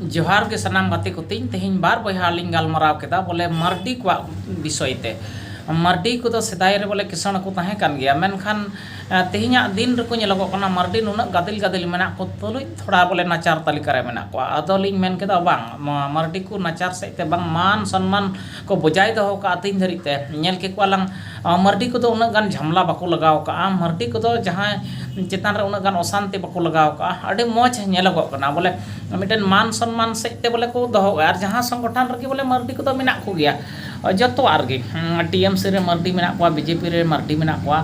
ᱡᱚᱦᱟᱨ ᱜᱮ ᱥᱟᱱᱟᱢ ᱜᱟᱛᱮ ᱠᱚ ᱛᱤᱧ ᱛᱮᱦᱮᱧ ᱵᱟᱨ ᱵᱚᱭᱦᱟ ᱞᱤᱧ ᱜᱟᱞᱢᱟᱨᱟᱣ ᱠᱮᱫᱟ ᱵᱚᱞᱮ ᱢᱟᱨᱰᱤ ᱠᱚᱣᱟᱜ ᱵᱤᱥᱚᱭ ᱛᱮ ᱢᱟᱨᱰᱤ ᱠᱚᱫᱚ ᱥᱮᱫᱟᱭ ᱨᱮ ᱵᱚᱞᱮ ᱠᱤᱥᱟᱹᱬ ᱠᱚ ᱛᱟᱦᱮᱸ ᱠᱟᱱ ᱜᱮᱭᱟ ᱢᱮᱱᱠᱷᱟᱱ ᱛᱮᱦᱮᱧᱟᱜ ᱫᱤᱱ ᱨᱮᱠᱚ ᱧᱮᱞᱚᱜᱚᱜ ᱠᱟᱱᱟ ᱢᱟᱨᱰᱤ ᱱᱩᱱᱟᱹᱜ ᱜᱟᱫᱮᱞ ᱜᱟᱫᱮᱞ ᱢᱮᱱᱟᱜ ᱠᱚ ᱛᱩᱞᱩᱡ ᱛᱷᱚᱲᱟ ᱵᱚᱞᱮ ᱱᱟᱪᱟᱨ ᱛᱟᱹᱞᱤᱠᱟ ᱨᱮ ᱢᱮᱱᱟᱜ ᱠᱚᱣᱟ ᱟᱫᱚ ᱞᱤᱧ ᱢᱮᱱ ᱠᱮᱫᱟ ᱵᱟᱝ ᱱᱚᱣᱟ ᱢᱟᱨᱰᱤ ᱠᱚ ᱱᱟᱪᱟᱨ ᱥᱮᱫ ᱛᱮ ᱵᱟᱝ ᱢᱟᱱ ᱥᱚᱱᱢᱟᱱ ᱠᱚ ᱵᱚᱡᱟᱭ ᱫᱚᱦᱚ ᱟᱠᱟᱫᱼᱟ ᱛᱮᱦᱮᱧ ᱫᱷᱟᱹᱨᱤᱡ ᱛᱮ ᱧᱮᱞ ᱠᱮᱫ ᱠᱚᱣᱟ ᱞᱟᱝ ᱢᱟᱹᱨᱰᱤ ᱠᱚᱫᱚ ᱩᱱᱟᱹᱜ ᱜᱟᱱ ᱡᱷᱟᱢᱮᱞᱟ ᱵᱟᱠᱚ ᱞᱟᱜᱟᱣ ᱟᱠᱟᱫᱼᱟ ᱢᱟᱹᱨᱰᱤ ᱠᱚᱫᱚ ᱡᱟᱦᱟᱸᱭ ᱪᱮᱛᱟᱱ ᱨᱮ ᱩᱱᱟᱹᱜ ᱜᱟᱱ ᱚᱥᱟᱱᱛᱤ ᱵᱟᱠᱚ ᱞᱟᱜᱟᱣ ᱟᱠᱟᱫᱼᱟ ᱟᱹᱰᱤ ᱢᱚᱡᱽ ᱧᱮᱞᱚᱜᱚᱜ ᱠᱟᱱᱟ ᱵᱚᱞᱮ ᱢᱤᱫᱴᱮᱱ ᱢᱟᱱ ᱥᱚᱱᱢᱟᱱ ᱥᱮᱫ ᱛᱮ ᱵᱚᱞᱮ ᱠᱚ ᱫᱚᱦᱚ ᱟᱠᱟᱫᱼᱟ ᱟᱨ ᱡᱟᱦᱟᱸ ᱥᱚᱝᱜᱚᱴᱷᱚᱱ ᱨᱮᱜᱮ ᱵᱚᱞᱮ ᱢᱟᱹᱨᱰᱤ ᱠᱚᱫᱚ ᱢᱮᱱᱟᱜ ᱠᱚᱜᱮᱭᱟ ᱡᱚᱛᱚᱣᱟᱜ ᱨᱮᱜᱮ ᱴᱤ ᱮᱢ ᱥᱤ ᱨᱮ ᱢᱟᱹᱨᱰᱤ ᱢᱮᱱᱟᱜ ᱠᱚᱣᱟ ᱵᱤ ᱡᱮ ᱯᱤ ᱨᱮ ᱢᱟᱹᱨᱰᱤ ᱢᱮᱱᱟᱜ ᱠᱚᱣᱟ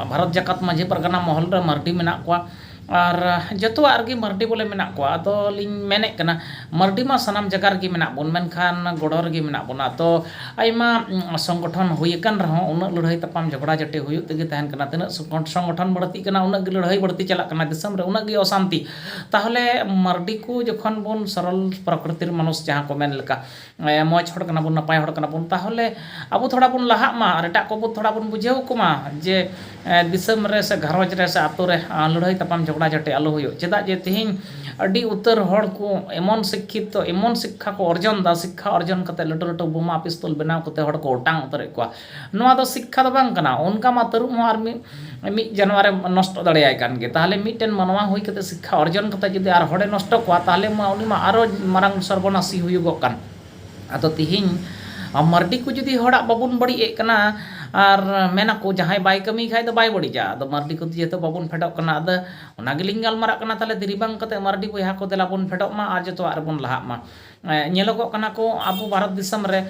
ᱵᱷᱟᱨᱚᱛ ᱡᱟᱠᱟᱛ ᱢᱟᱺᱡᱷᱤ ᱯᱟᱨᱜᱟᱱᱟ ᱢᱚᱦᱚᱞ ᱨᱮ ᱢᱟᱹᱨᱰᱤ ᱢᱮᱱᱟᱜ ᱠᱚᱣᱟ ᱟᱨ ᱡᱚᱛᱚᱣᱟᱜ ᱨᱮᱜᱮ ᱢᱟᱹᱨᱰᱤ ᱵᱚᱞᱮ ᱢᱮᱱᱟᱜ ᱠᱚᱣᱟ ᱟᱫᱚ ᱞᱤᱧ ᱢᱮᱱᱮᱫ ᱠᱟᱱᱟ ᱢᱟᱹᱨᱰᱤ ᱢᱟ ᱥᱟᱱᱟᱢ ᱡᱟᱭᱜᱟ ᱨᱮᱜᱮ ᱢᱮᱱᱟᱜ ᱵᱚᱱ ᱢᱮᱱᱠᱷᱟᱱ ᱜᱚᱲᱚ ᱨᱮᱜᱮ ᱢᱮᱱᱟᱜ ᱵᱚᱱᱟ ᱛᱚ ᱟᱭᱢᱟ ᱥᱚᱝᱜᱚᱴᱷᱚᱱ ᱦᱩᱭ ᱟᱠᱟᱱ ᱨᱮᱦᱚᱸ ᱩᱱᱟᱹᱜ ᱞᱟᱹᱲᱦᱟᱹᱭ ᱛᱟᱯᱟᱢ ᱡᱷᱚᱜᱽᱲᱟ ᱡᱷᱟᱹᱴᱤ ᱦᱩᱭᱩᱜ ᱛᱮᱜᱮ ᱛᱟᱦᱮᱱ ᱠᱟᱱᱟ ᱛᱤᱱᱟᱹᱜ ᱥᱚᱝᱜᱚᱴᱷᱚᱱ ᱵᱟᱹᱲᱛᱤᱜ ᱠᱟᱱᱟ ᱩᱱᱟᱹᱜ ᱜᱮ ᱞᱟᱹᱲᱦᱟᱹᱭ ᱵᱟᱹᱲᱛᱤ ᱪᱟᱞᱟᱜ ᱠᱟᱱᱟ ᱫᱤᱥᱚᱢ ᱨᱮ ᱩᱱᱟᱹᱜ ᱜᱮ ᱚᱥᱟᱱᱛᱤ ᱛᱟᱦᱚᱞᱮ ᱢᱟᱹᱨᱰᱤ ᱠᱚ ᱡᱚᱠᱷᱚᱱ ᱵᱚᱱ ᱥᱚᱨᱚᱞ ᱯᱨᱚᱠᱨᱤᱛᱤᱨ ᱢᱟᱱᱩᱥ ᱡᱟᱦᱟᱸ ᱠᱚ ᱢᱮᱱ ᱞᱮᱠᱟ ᱢᱚᱡᱽ ᱦᱚᱲ ᱠᱟᱱᱟ ᱵᱚᱱ ᱱᱟᱯᱟᱭ ᱦᱚᱲ ᱠᱟᱱᱟ ᱵᱚᱱ ᱛᱟᱦᱚᱞᱮ ᱟᱵᱚ ᱛᱷᱚᱲᱟ ᱵᱚᱱ ᱞᱟᱦᱟᱜ ᱢᱟ ᱟᱨ ᱮᱴᱟᱜ ᱠᱚᱵᱚᱱ ᱛᱷᱚᱲᱟ ᱵᱚᱱ ᱵᱩᱡᱷᱟᱹᱣ ᱠᱚᱢᱟ ᱡᱮ ᱫᱤᱥᱚᱢ ᱨᱮ ᱥᱮ ᱜᱷᱟᱨᱚᱸᱡᱽ ᱨᱮ ᱥᱮ ᱟᱹᱛᱩ ᱨᱮ ᱞᱟᱹᱲᱦᱟᱹᱭ ᱛᱟᱯᱟᱢ ᱡᱷᱚᱜᱽᱲᱟ ᱡᱷᱟᱹᱴᱤ ᱟᱞᱚ ᱦᱩᱭᱩᱜ ᱪᱮᱫᱟᱜ ᱡᱮ ᱛᱮᱦᱮᱧ ᱟᱹᱰᱤ ᱩᱛᱟᱹᱨ ᱦᱚᱲ ᱠᱚ ᱮᱢᱚᱱ ᱥᱤᱠᱠᱷᱤᱛᱚ ᱮᱢᱚᱱ ᱥᱤᱠᱠᱷᱟ ᱠᱚ ᱚᱨᱡᱚᱱᱫᱟ ᱥᱤᱠᱠᱷᱟ ᱚᱨᱡᱚᱱ ᱠᱟᱛᱮᱫ ᱞᱟᱹᱴᱩ ᱞᱟᱹᱴᱩ ᱵᱳᱢᱟ ᱯᱤᱥᱛᱚᱞ ᱵᱮᱱᱟᱣ ᱠᱟᱛᱮᱫ ᱦᱚᱲ ᱠᱚ ᱚᱴᱟᱝ ᱩᱛᱟᱹᱨᱮᱫ ᱠᱚᱣᱟ ᱱᱚᱣᱟ ᱫᱚ ᱥᱤᱠᱠᱷᱟ ᱫᱚ ᱵᱟᱝ ᱠᱟᱱᱟ ᱚᱱᱠᱟ ᱢᱟ ᱛᱟᱹᱨᱩᱵ ᱦᱚᱸ ᱟᱨ ᱢᱤᱫ ᱢᱤᱫ ᱡᱟᱱᱣᱟᱨᱮ ᱱᱚᱥᱴᱚ ᱫᱟᱲᱮᱭᱟᱭ ᱠᱟᱱ ᱜᱮ ᱛᱟᱦᱚᱞᱮ ᱢᱤᱫᱴᱮᱱ ᱢᱟᱱᱣᱟ ᱦᱩᱭ ᱠᱟᱛᱮᱫ ᱥᱤᱠᱠᱷᱟ ᱚᱨᱡᱚᱱ ᱠᱟᱛᱮᱫ ᱡᱩᱫᱤ ᱟᱨ ᱦᱚᱲᱮ ᱱᱚᱥᱴᱚ ᱠᱚᱣᱟ ᱛᱟᱦᱚᱞᱮ ᱢᱟ ᱩᱱᱤ ᱢᱟ ᱟᱨᱚ ᱢᱟᱨᱟᱝ ᱥᱚᱨᱵᱚᱱᱟᱥᱤ ᱦᱩᱭᱩᱜᱚᱜ ᱠᱟᱱ ᱟᱫᱚ ᱛᱮᱦᱮᱧ ᱢᱟᱹᱨᱰᱤ ᱠᱚ ᱡᱩᱫᱤ ᱦᱚᱲᱟᱜ ᱵᱟᱵᱚᱱ ᱵᱟᱹᱲᱤᱡ ᱮᱫ ᱠᱟᱱᱟ ᱟᱨ ᱢᱮᱱᱟᱠᱚ ᱡᱟᱦᱟᱸᱭ ᱵᱟᱭ ᱠᱟᱹᱢᱤ ᱠᱷᱟᱱ ᱫᱚ ᱵᱟᱭ ᱵᱟᱹᱲᱤᱡᱟ ᱟᱫᱚ ᱢᱟᱹᱨᱰᱤ ᱠᱚ ᱡᱮᱦᱮᱛᱩ ᱵᱟᱵᱚᱱ ᱯᱷᱮᱰᱚᱜ ᱠᱟᱱᱟ ᱟᱫᱚ ᱚᱱᱟ ᱜᱮᱞᱤᱧ ᱜᱟᱞᱢᱟᱨᱟᱜ ᱠᱟᱱᱟ ᱛᱟᱦᱚᱞᱮ ᱫᱮᱨᱤ ᱵᱟᱝ ᱠᱟᱛᱮᱫ ᱢᱟᱹᱨᱰᱤ ᱵᱚᱭᱦᱟ ᱠᱚ ᱫᱮᱞᱟ ᱵᱚᱱ ᱯᱷᱮᱰᱚᱜ ᱢᱟ ᱟᱨ ᱡᱚᱛᱚᱣᱟᱜ ᱨᱮᱵᱚᱱ ᱞᱟᱦᱟᱜ ᱢᱟ ᱧᱮᱞᱚᱜᱚᱜ ᱠᱟᱱᱟ ᱠᱚ ᱟᱵᱚ ᱵᱷᱟᱨᱚᱛ ᱫᱤᱥᱚᱢ ᱨᱮ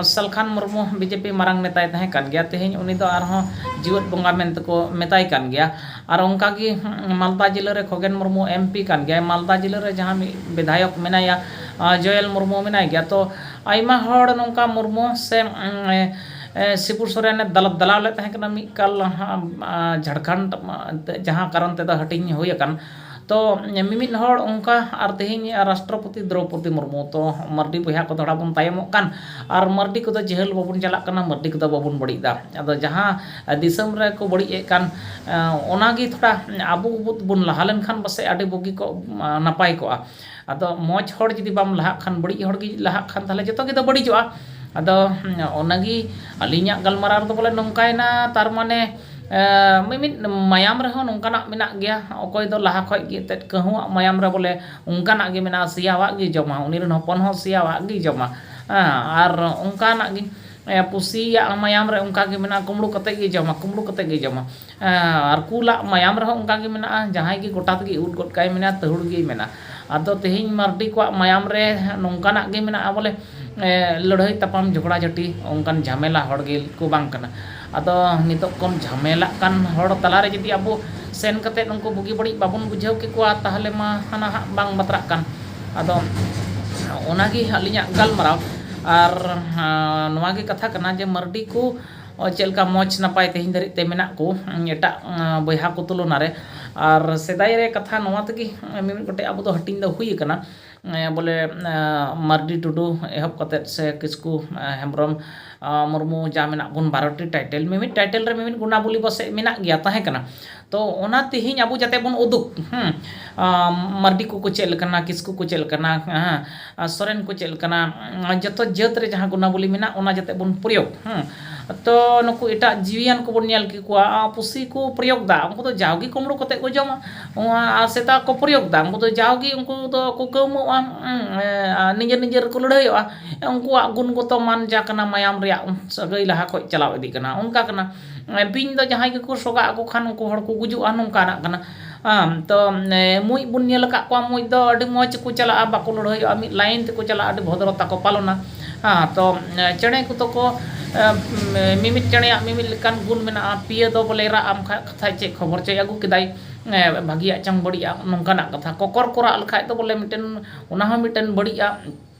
Salkhan Murmu B J P ᱢᱟᱨᱟᱝ ᱱᱮᱛᱟᱭ ᱛᱟᱦᱮᱸ ᱠᱟᱱ ᱜᱮᱭᱟ ᱛᱮᱦᱮᱧ ᱩᱱᱤ ᱫᱚ ᱟᱨᱦᱚᱸ ᱡᱮᱣᱮᱫ ᱵᱚᱸᱜᱟ ᱢᱮᱱᱛᱮ ᱠᱚ ᱢᱮᱛᱟᱭ ᱠᱟᱱ ᱜᱮᱭᱟ ᱟᱨ ᱚᱱᱠᱟᱜᱮ ᱢᱟᱞᱫᱟ ᱡᱮᱞᱟ ᱨᱮ ᱠᱷᱚᱜᱮᱱ ᱢᱩᱨᱢᱩ ᱮᱢ ᱯᱤ ᱠᱟᱱ ᱜᱮᱭᱟᱭ ᱢᱟᱞᱫᱟ ᱡᱮᱞᱟ ᱨᱮ ᱡᱟᱦᱟᱸ ᱢᱤᱫ ᱵᱤᱫᱷᱟᱭᱚᱠ ᱢᱮᱱᱟᱭᱟ ᱡᱚᱭᱮᱞ ᱢᱩᱨᱢᱩ ᱢᱮᱱᱟᱭ ᱜᱮᱭᱟ ᱛᱚ ᱟᱭᱢᱟ ᱦᱚᱲ ᱱᱚᱝᱠᱟ ᱢᱩᱨᱢᱩ ᱥᱮ ᱥᱤᱵᱩ ᱥᱚᱨᱮᱱᱮ ᱫᱟᱞᱟᱞ ᱞᱮᱫ ᱛᱟᱦᱮᱸ ᱠᱟᱱᱟ ᱢᱤᱫ ᱠᱟᱞ ᱡᱷᱟᱲᱠᱷᱚᱸᱰ ᱡᱟᱦᱟᱸ ᱠᱟᱨᱚᱱ ᱛᱮᱫᱚ ᱦᱟᱹᱴᱤᱧ ᱦᱩᱭ ᱟᱠᱟᱱ ᱛᱚ ᱢᱤᱢᱤᱫ ᱦᱚᱲ ᱚᱱᱠᱟ ᱟᱨ ᱛᱮᱦᱮᱧ ᱨᱟᱥᱴᱨᱚᱯᱚᱛᱤ ᱫᱨᱳᱣᱯᱚᱫᱤ ᱢᱩᱨᱢᱩ ᱛᱚ ᱢᱟᱹᱨᱰᱤ ᱵᱚᱭᱦᱟ ᱠᱚ ᱛᱷᱚᱲᱟ ᱵᱚᱱ ᱛᱟᱭᱚᱢᱚᱜ ᱠᱟᱱ ᱟᱨ ᱢᱟᱹᱨᱰᱤ ᱠᱚᱫᱚ ᱡᱮᱦᱟᱹᱞ ᱵᱟᱵᱚᱱ ᱪᱟᱞᱟᱜ ᱠᱟᱱᱟ ᱢᱟᱹᱨᱰᱤ ᱠᱚᱫᱚ ᱵᱟᱵᱚᱱ ᱵᱟᱹᱲᱤᱡᱫᱟ ᱟᱫᱚ ᱡᱟᱦᱟᱸ ᱫᱤᱥᱚᱢ ᱨᱮᱠᱚ ᱵᱟᱹᱲᱤᱡᱮᱫ ᱠᱟᱱ ᱚᱱᱟᱜᱮ ᱛᱷᱚᱲᱟ ᱟᱵᱚ ᱵᱚᱱ ᱞᱟᱦᱟ ᱞᱮᱱᱠᱷᱟᱱ ᱯᱟᱥᱮᱡ ᱟᱹᱰᱤ ᱵᱩᱜᱤ ᱠᱚᱜ ᱱᱟᱯᱟᱭ ᱠᱚᱜᱼᱟ ᱟᱫᱚ ᱢᱚᱡᱽ ᱦᱚᱲ ᱡᱩᱫᱤ ᱵᱟᱢ ᱞᱟᱦᱟᱜ ᱠᱷᱟᱱ ᱵᱟᱹᱲᱤᱡ ᱦᱚᱲ ᱜᱮ ᱞᱟᱦᱟᱜ ᱠᱷᱟᱱ ᱛᱟᱦᱚᱞᱮ ᱡᱚᱛᱚ ᱜᱮᱛᱚ ᱵᱟᱹᱲᱤᱡᱚᱜᱼᱟ ᱟᱫᱚ ᱚᱱᱟᱜᱮ ᱟᱹᱞᱤᱧᱟᱜ ᱜᱟᱞᱢᱟᱨᱟᱣ ᱨᱮᱫᱚ ᱵᱚᱞᱮ ᱱᱚᱝᱠᱟᱭᱮᱱᱟ ᱛᱟᱨ ᱢᱟᱱᱮ ᱢᱤᱢᱤᱫ ᱢᱟᱭᱟᱢ ᱨᱮᱦᱚᱸ ᱱᱚᱝᱠᱟᱱᱟᱜ ᱢᱮᱱᱟᱜ ᱜᱮᱭᱟ ᱚᱠᱚᱭ ᱫᱚ ᱞᱟᱦᱟ ᱠᱷᱚᱡ ᱜᱮ ᱮᱱᱛᱮᱫ ᱠᱟᱹᱦᱩᱣᱟᱜ ᱢᱟᱭᱟᱢ ᱨᱮ ᱵᱚᱞᱮ ᱚᱱᱠᱟᱱᱟᱜ ᱜᱮ ᱢᱮᱱᱟᱜᱼᱟ ᱥᱮᱭᱟᱣᱟᱜ ᱜᱮ ᱡᱚᱢᱟ ᱩᱱᱤ ᱨᱮᱱ ᱦᱚᱯᱚᱱ ᱦᱚᱸ ᱥᱮᱭᱟᱣᱟᱜ ᱜᱮᱭ ᱡᱚᱢᱟ ᱦᱮᱸ ᱟᱨ ᱚᱱᱠᱟᱱᱟᱜ ᱜᱮ ᱯᱩᱥᱤᱭᱟᱜ ᱢᱟᱭᱟᱢ ᱨᱮ ᱚᱱᱠᱟᱜᱮ ᱢᱮᱱᱟᱜᱼᱟ ᱠᱩᱢᱵᱽᱲᱩ ᱠᱟᱛᱮᱫ ᱜᱮᱭ ᱡᱚᱢᱟ ᱠᱩᱢᱵᱽᱲᱩ ᱠᱟᱛᱮᱫ ᱜᱮᱭ ᱡᱚᱢᱟ ᱟᱨ ᱠᱩᱞᱟᱜ ᱢᱟᱭᱟᱢ ᱨᱮᱦᱚᱸ ᱚᱱᱠᱟᱜᱮ ᱢᱮᱱᱟᱜᱼᱟ ᱡᱟᱦᱟᱸᱭ ᱜᱮ ᱜᱚᱴᱟ ᱛᱮᱜᱮ ᱩᱞ ᱜᱚᱫ ᱠᱟᱜᱼᱟᱭ ᱢᱮᱱᱟᱭ ᱛᱟᱹᱦᱩᱲ ᱜᱮᱭ ᱢᱮᱱᱟ ᱟᱫᱚ ᱛᱮᱦᱮᱧ ᱢᱟᱹᱨᱰᱤ ᱠᱚᱣᱟᱜ ᱢᱟᱭᱟᱢ ᱨᱮ ᱱᱚᱝᱠᱟᱱᱟᱜ ᱜᱮ ᱢᱮᱱᱟᱜᱼᱟ ᱵᱚᱞᱮ ᱞᱟᱹᱲᱦᱟᱹᱭ ᱛᱟᱯᱟᱢ ᱡᱷᱚᱜᱽᱲᱟ ᱡᱷᱟᱹᱴᱤ ᱚᱱᱠᱟᱱ ᱡᱷᱟᱢᱮᱞᱟ ᱦᱚᱲ ᱜᱮᱠᱚ ᱵᱟᱝ ᱠᱟᱱᱟ ᱟᱫᱚ ᱱᱤᱛᱚᱜ ᱠᱚ ᱡᱷᱟᱢᱮᱞᱟᱜ ᱠᱟᱱ ᱦᱚᱲ ᱛᱟᱞᱟᱨᱮ ᱡᱩᱫᱤ ᱟᱵᱚ ᱥᱮᱱ ᱠᱟᱛᱮᱫ ᱩᱱᱠᱩ ᱵᱩᱜᱤ ᱵᱟᱹᱲᱤᱡ ᱵᱟᱵᱚᱱ ᱵᱩᱡᱷᱟᱹᱣ ᱠᱮᱠᱚᱣᱟ ᱛᱟᱦᱚᱞᱮ ᱢᱟ ᱦᱟᱱᱟ ᱦᱟᱸᱜ ᱵᱟᱝ ᱵᱟᱛᱨᱟᱜ ᱠᱟᱱ ᱟᱫᱚ ᱚᱱᱟᱜᱮ ᱟᱹᱞᱤᱧᱟᱜ ᱜᱟᱞᱢᱟᱨᱟᱣ ᱟᱨ ᱱᱚᱣᱟᱜᱮ ᱠᱟᱛᱷᱟ ᱠᱟᱱᱟ ᱡᱮ ᱢᱟᱹᱨᱰᱤ ᱠᱚ ᱪᱮᱫ ᱞᱮᱠᱟ ᱢᱚᱡᱽ ᱱᱟᱯᱟᱭ ᱛᱮᱦᱮᱧ ᱫᱷᱟᱹᱨᱤᱡ ᱛᱮ ᱢᱮᱱᱟᱜ ᱠᱚ ᱮᱴᱟᱜ ᱵᱚᱭᱦᱟ ᱠᱚ ᱛᱩᱞᱚᱱᱟ ᱨᱮ ᱟᱨ ᱥᱮᱫᱟᱭ ᱨᱮ ᱠᱟᱛᱷᱟ ᱱᱚᱣᱟ ᱛᱮᱜᱮ ᱢᱤᱢᱤᱫ ᱜᱚᱴᱮᱡ ᱟᱵᱚ ᱫᱚ ᱦᱟᱹᱴᱤᱧ ᱫᱚ ᱦᱩᱭ ᱠᱟᱱᱟ ᱵᱚᱞᱮ ᱢᱟᱹᱨᱰᱤ ᱴᱩᱰᱩ ᱮᱦᱚᱵ ᱠᱟᱛᱮᱫ ᱥᱮ ᱠᱤᱥᱠᱩ ᱦᱮᱢᱵᱨᱚᱢ ᱢᱩᱨᱢᱩ ᱡᱟ ᱢᱮᱱᱟᱜ ᱵᱚᱱ ᱵᱟᱨᱚᱴᱤ ᱴᱟᱭᱴᱮᱞ ᱢᱤᱢᱤᱫ ᱴᱟᱭᱴᱮᱞ ᱨᱮ ᱢᱤᱢᱤᱫ ᱜᱩᱱᱟᱵᱚᱞᱤ ᱯᱟᱥᱮᱡ ᱢᱮᱱᱟᱜ ᱜᱮᱭᱟ ᱛᱟᱦᱮᱸ ᱠᱟᱱᱟ ᱛᱚ ᱚᱱᱟ ᱛᱮᱦᱮᱧ ᱟᱵᱚ ᱡᱟᱛᱮ ᱵᱚᱱ ᱩᱫᱩᱜᱽ ᱢᱟᱨᱰᱤ ᱠᱚᱠᱚ ᱪᱮᱫ ᱞᱮᱠᱟᱱᱟ ᱠᱤᱥᱠᱩ ᱠᱚ ᱪᱮᱫ ᱞᱮᱠᱟᱱᱟ ᱥᱚᱨᱮᱱ ᱠᱚ ᱪᱮᱫ ᱞᱮᱠᱟᱱᱟ ᱡᱚᱛᱚ ᱡᱟᱹᱛ ᱨᱮ ᱡᱟᱦᱟᱸ ᱜᱩᱱᱟᱵᱚᱞᱤ ᱢᱮᱱᱟᱜ ᱚᱱᱟ ᱡᱟᱛᱮ ᱵᱚᱱ ᱯᱨᱚᱭᱳᱜᱽ ᱛᱚ ᱱᱩᱠᱩ ᱮᱴᱟᱜ ᱡᱤᱣᱤᱭᱟᱱ ᱠᱚᱵᱚᱱ ᱧᱮᱞ ᱠᱮᱠᱚᱣᱟ ᱯᱩᱥᱤ ᱠᱚ ᱯᱨᱚᱭᱳᱜᱽᱫᱟ ᱩᱱᱠᱩ ᱫᱚ ᱡᱟᱣᱜᱮ ᱠᱩᱢᱲᱩ ᱠᱟᱛᱮᱫ ᱠᱚ ᱡᱚᱢᱟ ᱟᱨ ᱥᱮᱛᱟ ᱠᱚ ᱯᱨᱚᱭᱳᱜᱽᱫᱟ ᱩᱱᱠᱩ ᱫᱚ ᱡᱟᱣᱜᱮ ᱩᱱᱠᱩ ᱫᱚᱠᱚ ᱠᱟᱹᱣᱢᱟᱹᱜᱼᱟ ᱱᱤᱡᱮᱨ ᱱᱤᱡᱮᱨ ᱠᱚ ᱞᱟᱹᱲᱦᱟᱹᱭᱚᱜᱼᱟ ᱩᱱᱠᱩᱣᱟᱜ ᱜᱩᱱᱜᱚᱛᱚ ᱢᱟᱱ ᱡᱟ ᱠᱟᱱᱟ ᱢᱟᱭᱟᱢ ᱨᱮᱭᱟᱜ ᱥᱟᱹᱜᱟᱹᱭ ᱞᱟᱦᱟ ᱠᱷᱚᱱ ᱪᱟᱞᱟᱣ ᱤᱫᱤᱜ ᱠᱟᱱᱟ ᱚᱱᱠᱟ ᱠᱟᱱᱟ ᱵᱤᱧ ᱫᱚ ᱡᱟᱦᱟᱸᱭ ᱜᱮᱠᱚ ᱥᱚᱜᱟ ᱟᱠᱚ ᱠᱷᱟᱱ ᱩᱱᱠᱩ ᱦᱚᱲ ᱠᱚ ᱜᱩᱡᱩᱜᱼᱟ ᱱᱚᱝᱠᱟᱱᱟᱜ ᱠᱟᱱᱟ ᱛᱳ ᱢᱩᱡ ᱵᱚᱱ ᱧᱮᱞ ᱟᱠᱟᱫ ᱠᱚᱣᱟ ᱢᱩᱡ ᱫᱚ ᱟᱹᱰᱤ ᱢᱚᱡᱽ ᱠᱚ ᱪᱟᱞᱟᱜᱼᱟ ᱵᱟᱠᱚ ᱞᱟᱹᱲᱦᱟᱹᱭᱚᱜᱼᱟ ᱢᱤᱫ ᱞᱟᱭᱤᱱ ᱛᱮᱠᱚ ᱪᱟᱞᱟᱜᱼᱟ ᱟᱹᱰᱤ ᱵᱷᱚᱫᱨᱚᱛᱟ ᱠᱚ ᱯᱟᱞᱚᱱᱟ ᱛᱳ ᱪᱮᱬᱮ ᱠᱚᱫᱚ ᱠᱚ ᱢᱤᱢᱤᱫ ᱪᱮᱬᱮᱭᱟᱜ ᱢᱤᱢᱤᱫ ᱞᱮᱠᱟᱱ ᱜᱩᱱ ᱢᱮᱱᱟᱜᱼᱟ ᱯᱤᱭᱳ ᱫᱚ ᱵᱚᱞᱮ ᱨᱟᱜ ᱟᱢ ᱠᱷᱟᱱ ᱠᱟᱛᱷᱟᱡ ᱪᱮᱫ ᱠᱷᱚᱵᱚᱨ ᱪᱚᱭ ᱟᱹᱜᱩ ᱠᱮᱫᱟᱭ ᱵᱷᱟᱹᱜᱤᱭᱟᱜ ᱪᱚᱝ ᱵᱟᱹᱲᱤᱡᱟᱜ ᱱᱚᱝᱠᱟᱱᱟᱜ ᱠᱟᱛᱷᱟ ᱠᱚᱠᱚᱨ ᱠᱚ ᱨᱟᱜ ᱞᱮᱠᱷᱟᱡ ᱫᱚ ᱵᱚᱞᱮ ᱢᱤᱫᱴᱮᱱ ᱚᱱᱟ ᱦᱚᱸ ᱢᱤᱫᱴᱮᱱ ᱵᱟᱹᱲᱤᱡᱟᱜ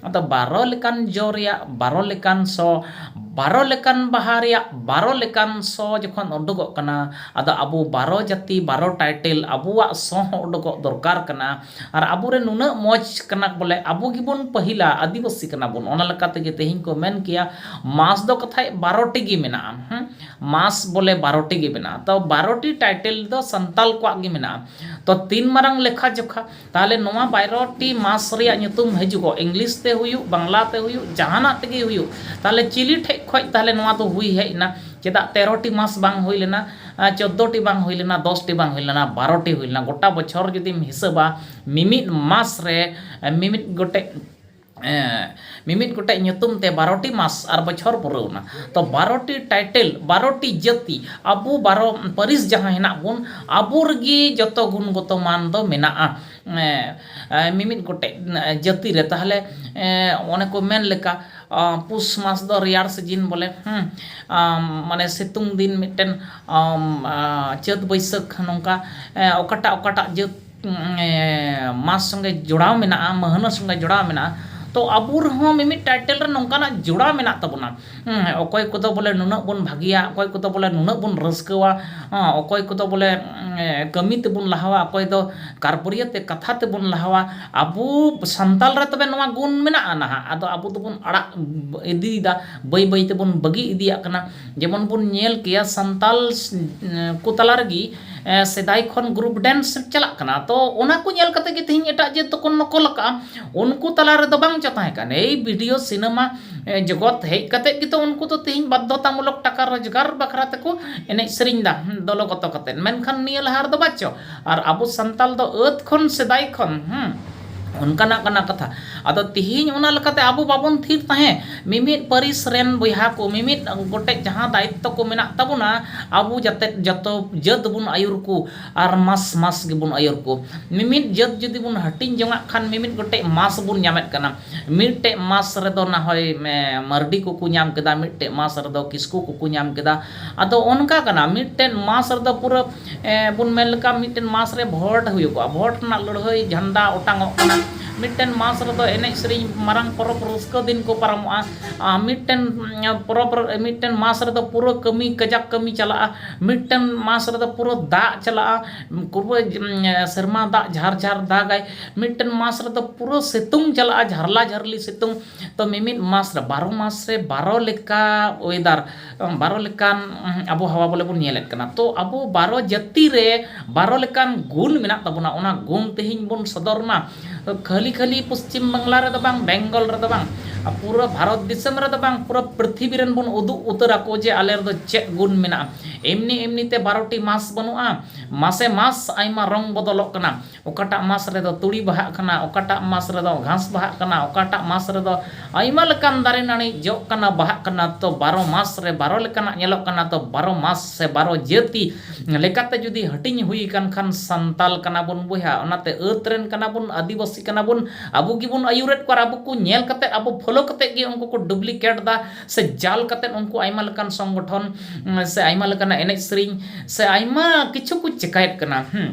ᱟᱫᱚ ᱵᱟᱨᱚ ᱞᱮᱠᱟᱱ ᱡᱚ ᱨᱮᱭᱟᱜ ᱵᱟᱨᱚ ᱞᱮᱠᱟᱱ ᱥᱚ ᱵᱟᱨᱚ ᱞᱮᱠᱟᱱ ᱵᱟᱦᱟ ᱨᱮᱭᱟᱜ ᱵᱟᱨᱚ ᱞᱮᱠᱟᱱ ᱥᱚ ᱡᱚᱠᱷᱚᱱ ᱩᱰᱩᱠᱚᱜ ᱠᱟᱱᱟ ᱟᱫᱚ ᱟᱵᱚ ᱵᱟᱨᱚ ᱡᱟᱹᱛᱤ ᱵᱟᱨᱚ ᱴᱟᱭᱴᱮᱞ ᱟᱵᱚᱣᱟᱜ ᱥᱚ ᱦᱚᱸ ᱩᱰᱩᱠᱚᱜ ᱫᱚᱨᱠᱟᱨ ᱠᱟᱱᱟ ᱟᱨ ᱟᱵᱚᱨᱮᱱ ᱱᱩᱱᱟᱹᱜ ᱢᱚᱡᱽ ᱠᱟᱱᱟ ᱠᱚ ᱵᱚᱞᱮ ᱟᱵᱚ ᱜᱮᱵᱚᱱ ᱯᱟᱹᱦᱤᱞᱟ ᱟᱹᱫᱤᱵᱟᱹᱥᱤ ᱠᱟᱱᱟ ᱵᱚᱱ ᱚᱱᱟ ᱞᱮᱠᱟ ᱛᱮᱜᱮ ᱛᱮᱦᱮᱧ ᱠᱚ ᱢᱮᱱ ᱠᱮᱭᱟ ᱢᱟᱥ ᱫᱚ ᱠᱟᱛᱷᱟᱡ ᱵᱟᱨᱚᱴᱤ ᱜᱮ ᱢᱮᱱᱟᱜᱼᱟ ᱢᱟᱥ ᱵᱚᱞᱮ ᱵᱟᱨᱚᱴᱤ ᱜᱮ ᱢᱮᱱᱟᱜᱼᱟ ᱛᱚ ᱵᱟᱨᱚᱴᱤ ᱴᱟᱭᱴᱮᱞ ᱫᱚ ᱥᱟᱱᱛᱟᱲ ᱠᱚᱣᱟᱜ ᱜᱮ ᱢᱮᱱᱟᱜᱼᱟ ᱛᱚ ᱛᱤᱱ ᱢᱟᱨᱟᱝ ᱞᱮᱠᱷᱟ ᱡᱚᱠᱷᱟ ᱛᱟᱦᱚᱞᱮ ᱱᱚᱣᱟ ᱵᱟᱭᱨᱚᱴᱤ ᱢᱟᱥ ᱨᱮᱭᱟᱜ ᱧᱩᱛᱩᱢ ᱦᱤᱡᱩᱜᱚᱜ ᱤᱝᱞᱤᱥ ᱛᱮ ᱦᱩᱭᱩᱜ ᱵᱟᱝᱞᱟ ᱛᱮ ᱦᱩᱭᱩᱜ ᱡᱟᱦᱟᱱᱟᱜ ᱛᱮᱜᱮ ᱦᱩᱭᱩᱜ ᱛᱟᱦᱚᱞᱮ ᱪᱤᱞᱤ ᱴᱷᱮᱡ ᱠᱷᱚᱡ ᱛᱟᱦᱚᱞᱮ ᱱᱚᱣᱟ ᱫᱚ ᱦᱩᱭ ᱦᱮᱡ ᱮᱱᱟ ᱪᱮᱫᱟᱜ ᱛᱮᱨᱚᱴᱤ ᱢᱟᱥ ᱵᱟᱝ ᱦᱩᱭ ᱞᱮᱱᱟ ᱪᱚᱫᱽᱫᱚᱴᱤ ᱵᱟᱝ ᱦᱩᱭ ᱞᱮᱱᱟ ᱫᱚᱥᱴᱤ ᱵᱟᱝ ᱦᱩᱭ ᱞᱮᱱᱟ ᱵᱟᱨᱚᱴᱤ ᱦᱩᱭ ᱞᱮᱱᱟ ᱜᱚᱴᱟ ᱵᱚᱪᱷᱚᱨ ᱡᱩᱫᱤᱢ ᱦᱤᱥᱟᱹᱵᱟ ᱢᱤᱢᱤᱫ ᱢᱟᱥ ᱨᱮ ᱢᱤᱢᱤᱫ ᱜᱚᱴᱮᱡ ᱢᱤᱢᱤᱫ ᱜᱚᱴᱮᱡ ᱧᱩᱛᱩᱢ ᱛᱮ ᱵᱟᱨᱚᱴᱤ ᱢᱟᱥ ᱟᱨ ᱵᱚᱪᱷᱚᱨ ᱯᱩᱨᱟᱹᱣᱱᱟ ᱛᱚ ᱵᱟᱨᱚᱴᱤ ᱴᱟᱭᱴᱮᱞ ᱵᱟᱨᱚᱴᱤ ᱡᱟᱹᱛᱤ ᱟᱵᱚ ᱵᱟᱨᱚ ᱯᱟᱹᱨᱤᱥ ᱡᱟᱦᱟᱸ ᱦᱮᱱᱟᱜ ᱵᱚᱱ ᱟᱵᱚ ᱨᱮᱜᱮ ᱡᱚᱛᱚ ᱜᱩᱱ ᱜᱚᱛᱚ ᱢᱟᱱ ᱫᱚ ᱢᱮᱱᱟᱜᱼᱟ ᱢᱤᱢᱤᱫ ᱜᱚᱴᱮᱡ ᱡᱟᱹᱛᱤ ᱨᱮ ᱛᱟᱦᱚᱞᱮ ᱚᱱᱮ ᱠᱚ ᱢᱮᱱ ᱞᱮᱠᱟ ᱯᱩᱥ ᱢᱟᱥ ᱫᱚ ᱨᱮᱭᱟᱲ ᱥᱤᱡᱤᱱ ᱵᱚᱞᱮ ᱢᱟᱱᱮ ᱥᱤᱛᱩᱝ ᱫᱤᱱ ᱢᱤᱫᱴᱮᱱ ᱪᱟᱹᱛ ᱵᱟᱹᱭᱥᱟᱹᱠᱷ ᱱᱚᱝᱠᱟ ᱚᱠᱟᱴᱟᱜ ᱚᱠᱟᱴᱟᱜ ᱡᱟᱹᱛ ᱢᱟᱥ ᱥᱚᱸᱜᱮ ᱡᱚᱲᱟᱣ ᱢᱮᱱᱟᱜᱼᱟ ᱢᱟᱹᱦᱱᱟᱹ ᱥᱚᱸᱜᱮ ᱡᱚᱲᱟᱣ ᱢᱮᱱᱟᱜᱼᱟ ᱛᱚ ᱟᱵᱚ ᱨᱮᱦᱚᱸ ᱢᱤᱢᱤᱫ ᱴᱟᱭᱴᱮᱞ ᱨᱮ ᱱᱚᱝᱠᱟᱱᱟᱜ ᱡᱚᱲᱟᱣ ᱢᱮᱱᱟᱜ ᱛᱟᱵᱚᱱᱟ ᱚᱠᱚᱭ ᱠᱚᱫᱚ ᱵᱚᱞᱮ ᱱᱩᱱᱟᱹᱜ ᱵᱚᱱ ᱵᱷᱟᱹᱜᱤᱭᱟ ᱚᱠᱚᱭ ᱠᱚᱫᱚ ᱵᱚᱞᱮ ᱱᱩᱱᱟᱹᱜ ᱵᱚᱱ ᱨᱟᱹᱥᱠᱟᱹᱣᱟ ᱚᱠᱚᱭ ᱠᱚᱫᱚ ᱵᱚᱞᱮ ᱠᱟᱹᱢᱤ ᱛᱮᱵᱚᱱ ᱞᱟᱦᱟᱣᱟ ᱚᱠᱚᱭ ᱫᱚ ᱠᱟᱨᱵᱟᱹᱨᱤᱭᱟᱹ ᱛᱮ ᱠᱟᱛᱷᱟ ᱛᱮᱵᱚᱱ ᱞᱟᱦᱟᱣᱟ ᱟᱵᱚ ᱥᱟᱱᱛᱟᱲ ᱨᱮ ᱛᱚᱵᱮ ᱱᱚᱣᱟ ᱜᱩᱱ ᱢᱮᱱᱟᱜᱼᱟ ᱱᱟᱦᱟᱜ ᱟᱫᱚ ᱟᱵᱚ ᱫᱚᱵᱚᱱ ᱟᱲᱟᱜ ᱤᱫᱤᱭᱮᱫᱟ ᱵᱟᱹᱭ ᱵᱟᱹᱭ ᱛᱮᱵᱚᱱ ᱵᱟᱹᱜᱤ ᱤᱫᱤᱭᱟᱜ ᱠᱟᱱᱟ ᱡᱮᱢᱚᱱ ᱵᱚᱱ ᱧᱮᱞ ᱠᱮᱭᱟ ᱥᱟᱱᱛᱟᱞ ᱠᱚ ᱛᱟᱞᱟ ᱨᱮᱜᱮ ᱥᱮᱫᱟᱭ ᱠᱷᱚᱱ ᱜᱨᱩᱯ ᱰᱮᱱᱥ ᱪᱟᱞᱟᱜ ᱠᱟᱱᱟ ᱛᱚ ᱚᱱᱟ ᱠᱚ ᱧᱮᱞ ᱠᱟᱛᱮ ᱜᱮ ᱛᱮᱦᱮᱧ ᱮᱴᱟᱜ ᱡᱟᱹᱛ ᱫᱚᱠᱚ ᱱᱚᱠᱚᱞ ᱟᱠᱟᱫᱼᱟ ᱩᱱᱠᱩ ᱛᱟᱞᱟ ᱨᱮᱫᱚ ᱵᱟᱝ ᱪᱚ ᱛᱟᱦᱮᱸ ᱠᱟᱱᱟ ᱮᱭ ᱵᱷᱤᱰᱤᱭᱳ ᱥᱤᱱᱮᱢᱟ ᱡᱚᱜᱚᱛ ᱦᱮᱡ ᱠᱟᱛᱮ ᱜᱮᱛᱚ ᱩᱱᱠᱩ ᱫᱚ ᱛᱮᱦᱮᱧ ᱵᱟᱫᱽᱫᱷᱚᱛᱟ ᱢᱩᱞᱚᱠ ᱴᱟᱠᱟ ᱨᱳᱡᱽᱜᱟᱨ ᱵᱟᱠᱷᱨᱟ ᱛᱮᱠᱚ ᱮᱱᱮᱡ ᱥᱮᱨᱮᱧ ᱮᱫᱟ ᱫᱚᱞᱚ ᱜᱚᱛᱚ ᱠᱟᱛᱮ ᱢᱮᱱᱠᱷᱟᱱ ᱱᱤᱭᱟᱹ ᱞᱟᱦᱟ ᱨᱮᱫᱚ ᱵᱟᱪᱚ ᱟᱨ ᱟᱵᱚ ᱥᱟᱱᱛᱟᱞ ᱫᱚ ᱟᱹᱫ ᱠᱷᱚᱱ ᱥᱮᱫᱟᱭ ᱠᱷᱚᱱ ᱚᱱᱠᱟᱱᱟᱜ ᱠᱟᱱᱟ ᱠᱟᱛᱷᱟ ᱟᱫᱚ ᱛᱮᱦᱮᱧ ᱚᱱᱟ ᱞᱮᱠᱟᱛᱮ ᱟᱵᱚ ᱵᱟᱵᱚᱱ ᱛᱷᱤᱨ ᱛᱟᱦᱮᱸᱫ ᱢᱤᱢᱤᱫ ᱯᱟᱹᱨᱤᱥ ᱨᱮᱱ ᱵᱚᱭᱦᱟ ᱠᱚ ᱢᱤᱢᱤᱫ ᱜᱚᱴᱮᱡ ᱡᱟᱦᱟᱸ ᱫᱟᱭᱤᱛᱛᱚ ᱠᱚ ᱢᱮᱱᱟᱜ ᱛᱟᱵᱚᱱᱟ ᱟᱵᱚ ᱡᱟᱛᱮ ᱡᱚᱛᱚ ᱡᱟᱹᱛ ᱵᱚᱱ ᱟᱹᱭᱩᱨ ᱠᱚ ᱟᱨ ᱢᱟᱥ ᱢᱟᱥ ᱜᱮᱵᱚᱱ ᱟᱹᱭᱩᱨ ᱠᱚ ᱢᱤᱢᱤᱫ ᱡᱟᱹᱛ ᱡᱩᱫᱤ ᱵᱚᱱ ᱦᱟᱹᱴᱤᱧ ᱡᱚᱱᱟᱜ ᱠᱷᱟᱱ ᱢᱤᱢᱤᱫ ᱜᱚᱴᱮᱡ ᱢᱟᱥ ᱵᱚᱱ ᱧᱟᱢᱮᱫ ᱠᱟᱱᱟ ᱢᱤᱫᱴᱮᱡ ᱢᱟᱥ ᱨᱮᱫᱚ ᱱᱟ ᱦᱚᱭ ᱢᱟᱹᱨᱰᱤ ᱠᱚᱠᱚ ᱧᱟᱢ ᱠᱮᱫᱟ ᱢᱤᱫᱴᱮᱡ ᱢᱟᱥ ᱨᱮᱫᱚ ᱠᱤᱥᱠᱩ ᱠᱚᱠᱚ ᱧᱟᱢ ᱠᱮᱫᱟ ᱟᱫᱚ ᱚᱱᱠᱟ ᱠᱟᱱᱟ ᱢᱤᱫᱴᱮᱡ ᱢᱟᱥ ᱨᱮᱫᱚ ᱯᱩᱨᱟᱹ ᱵᱚᱱ ᱢᱮᱱ ᱞᱮᱠᱷᱟᱱ ᱢᱤᱫᱴᱟᱝ ᱢᱟᱥ ᱨᱮ ᱵᱷᱳᱴ ᱦᱩᱭᱩᱜᱼᱟ ᱵᱷᱳᱴ ᱨᱮᱱᱟᱜ ᱞᱟᱹᱲᱦᱟᱹᱭ ᱡᱷᱟᱱᱰᱟ ᱚᱴᱟᱝ ᱚᱜ ᱠᱟᱱᱟ ᱢᱤᱫᱴᱮᱱ ᱢᱟᱥ ᱨᱮᱫᱚ ᱮᱱᱮᱡ ᱥᱮᱨᱮᱧ ᱢᱟᱨᱟᱝ ᱯᱚᱨᱚᱵᱽ ᱨᱟᱹᱥᱠᱟᱹ ᱫᱤᱱ ᱠᱚ ᱯᱟᱨᱚᱢᱚᱜᱼᱟ ᱟᱨ ᱢᱤᱫᱴᱮᱱ ᱯᱚᱨᱚᱵᱽ ᱨᱮ ᱢᱤᱫᱴᱮᱱ ᱢᱟᱥ ᱨᱮᱫᱚ ᱯᱩᱨᱟᱹ ᱠᱟᱹᱢᱤ ᱠᱟᱡᱟᱠ ᱠᱟᱹᱢᱤ ᱪᱟᱞᱟᱜᱼᱟ ᱢᱤᱫᱴᱟᱝ ᱢᱟᱥ ᱨᱮᱫᱚ ᱯᱩᱨᱟᱹ ᱫᱟᱜ ᱪᱟᱞᱟᱜᱼᱟ ᱯᱩᱨᱟᱹ ᱥᱮᱨᱢᱟ ᱫᱟᱜ ᱡᱷᱟᱨ ᱡᱷᱟᱨ ᱫᱟᱜᱟᱭ ᱢᱤᱫᱴᱮᱱ ᱢᱟᱥ ᱨᱮᱫᱚ ᱯᱩᱨᱟᱹ ᱥᱤᱛᱩᱝ ᱪᱟᱞᱟᱜᱼᱟ ᱡᱷᱟᱨᱞᱟ ᱡᱷᱟᱹᱨᱞᱤ ᱥᱤᱛᱩᱝ ᱛᱳ ᱢᱤᱢᱤᱫ ᱢᱟᱥ ᱨᱮ ᱵᱟᱨᱚ ᱢᱟᱥ ᱨᱮ ᱵᱟᱨᱚ ᱞᱮᱠᱟ ᱚᱭᱮᱫᱟᱨ ᱵᱟᱨᱚ ᱞᱮᱠᱟᱱ ᱟᱵᱚᱦᱟᱣᱟ ᱵᱚᱞᱮ ᱵᱚᱱ ᱧᱮᱞᱮᱫ ᱠᱟᱱᱟ ᱛᱚ ᱟᱵᱚ ᱵᱟᱨᱚ ᱡᱟᱹᱛᱤ ᱨᱮ ᱵᱟᱨᱚ ᱞᱮᱠᱟᱱ ᱜᱩᱱ ᱢᱮᱱᱟᱜ ᱛᱟᱵᱚᱱᱟ ᱚᱱᱟ ᱜᱩᱱ ᱛᱮᱦᱮᱧ ᱵᱚᱱ ᱥᱚᱫᱚᱨ ᱢᱟ ᱠᱷᱟᱹᱞᱤ ᱠᱷᱟᱹᱞᱤ ᱯᱚᱥᱪᱤᱢ ᱵᱟᱝᱞᱟ ᱨᱮᱫᱚ ᱵᱟᱝ ᱵᱮᱝᱜᱚᱞ ᱨᱮᱫᱚ ᱵᱟᱝ ᱯᱩᱨᱟᱹ ᱵᱷᱟᱨᱚᱛ ᱫᱤᱥᱚᱢ ᱨᱮᱫᱚ ᱵᱟᱝ ᱯᱩᱨᱟᱹ ᱯᱨᱤᱛᱷᱤᱵᱤ ᱨᱮᱱ ᱵᱚᱱ ᱩᱫᱩᱜ ᱩᱛᱟᱹᱨ ᱟᱠᱚ ᱡᱮ ᱟᱞᱮ ᱨᱮᱫᱚ ᱪᱮᱫ ᱜᱩᱱ ᱢᱮᱱᱟᱜᱼᱟ ᱮᱢᱱᱤ ᱮᱢᱱᱤ ᱛᱮ ᱵᱟᱨᱚᱴᱤ ᱢᱟᱥ ᱵᱟᱹᱱᱩᱜᱼᱟ ᱢᱟᱥᱮ ᱢᱟᱥ ᱟᱭᱢᱟ ᱨᱚᱝ ᱵᱚᱫᱚᱞᱚᱜ ᱠᱟᱱᱟ ᱚᱠᱟᱴᱟᱜ ᱢᱟᱥ ᱨᱮᱫᱚ ᱛᱩᱲᱤ ᱵᱟᱦᱟᱜ ᱠᱟᱱᱟ, ᱚᱠᱟᱴᱟᱜ ᱢᱟᱥ ᱨᱮᱫᱚ ᱜᱷᱟᱸᱥ ᱵᱟᱦᱟᱜ ᱠᱟᱱᱟ, ᱚᱠᱟᱴᱟᱜ ᱢᱟᱥ ᱨᱮᱫᱚ ᱟᱭᱢᱟ ᱞᱮᱠᱟᱱ ᱫᱟᱨᱮ ᱱᱟᱹᱬᱤ ᱡᱚᱜ ᱠᱟᱱᱟ, ᱵᱟᱦᱟᱜ ᱠᱟᱱᱟ ᱛᱚ ᱵᱟᱨᱚ ᱢᱟᱥ ᱨᱮ ᱵᱟᱨᱚ ᱞᱮᱠᱟᱱᱟᱜ ᱧᱮᱞᱚᱜ ᱠᱟᱱᱟ ᱛᱚ ᱵᱟᱨᱚ ᱢᱟᱥ ᱥᱮ ᱵᱟᱨᱚ ᱡᱟᱹᱛᱤ ᱞᱮᱠᱟᱛᱮ ᱡᱩᱫᱤ ᱦᱟᱹᱴᱤᱧ ᱦᱩᱭ ᱟᱠᱟᱱ ᱠᱷᱟᱱ ᱥᱟᱱᱛᱟᱞ ᱠᱟᱱᱟ ᱵᱚᱱ ᱵᱚᱭᱦᱟ ᱚᱱᱟᱛᱮ ᱟᱹᱛ ᱨᱮᱱ ᱠᱟᱱᱟ ᱵᱚᱱ ᱟᱹᱫᱤᱵᱟᱹᱥᱤ ᱠᱟᱱᱟ ᱵᱚᱱ ᱟᱵᱚ ᱜᱮᱵᱚᱱ ᱟᱹᱭᱩᱨᱮᱫ ᱠᱚᱣᱟ ᱟᱨ ᱟᱵᱚ ᱠᱚ ᱧᱮᱞ ᱠᱟᱛᱮ ᱟᱵᱚ ᱯᱷᱚᱞᱳ ᱠᱟᱛᱮ ᱜᱮ ᱩᱱᱠᱩ ᱠᱚ ᱰᱩᱵᱽᱞᱤᱠᱮᱴ ᱮᱫᱟ ᱥᱮ ᱡᱟᱞ ᱠᱟᱛᱮ ᱩᱱᱠᱩ ᱟᱭᱢᱟ ᱞᱮᱠᱟᱱ ᱥᱚᱝᱜᱚᱴᱷᱚᱱ ᱥᱮ ᱟᱭᱢᱟ ᱞᱮᱠᱟᱱᱟᱜ ᱮᱱᱮᱡ ᱥᱮᱨᱮᱧ ᱥᱮ ᱟᱭᱢᱟ ᱠᱤᱪᱷᱩ ᱠᱚ ᱪᱮᱠᱟᱭᱮᱫ ᱠᱟᱱᱟ ᱦᱮᱸ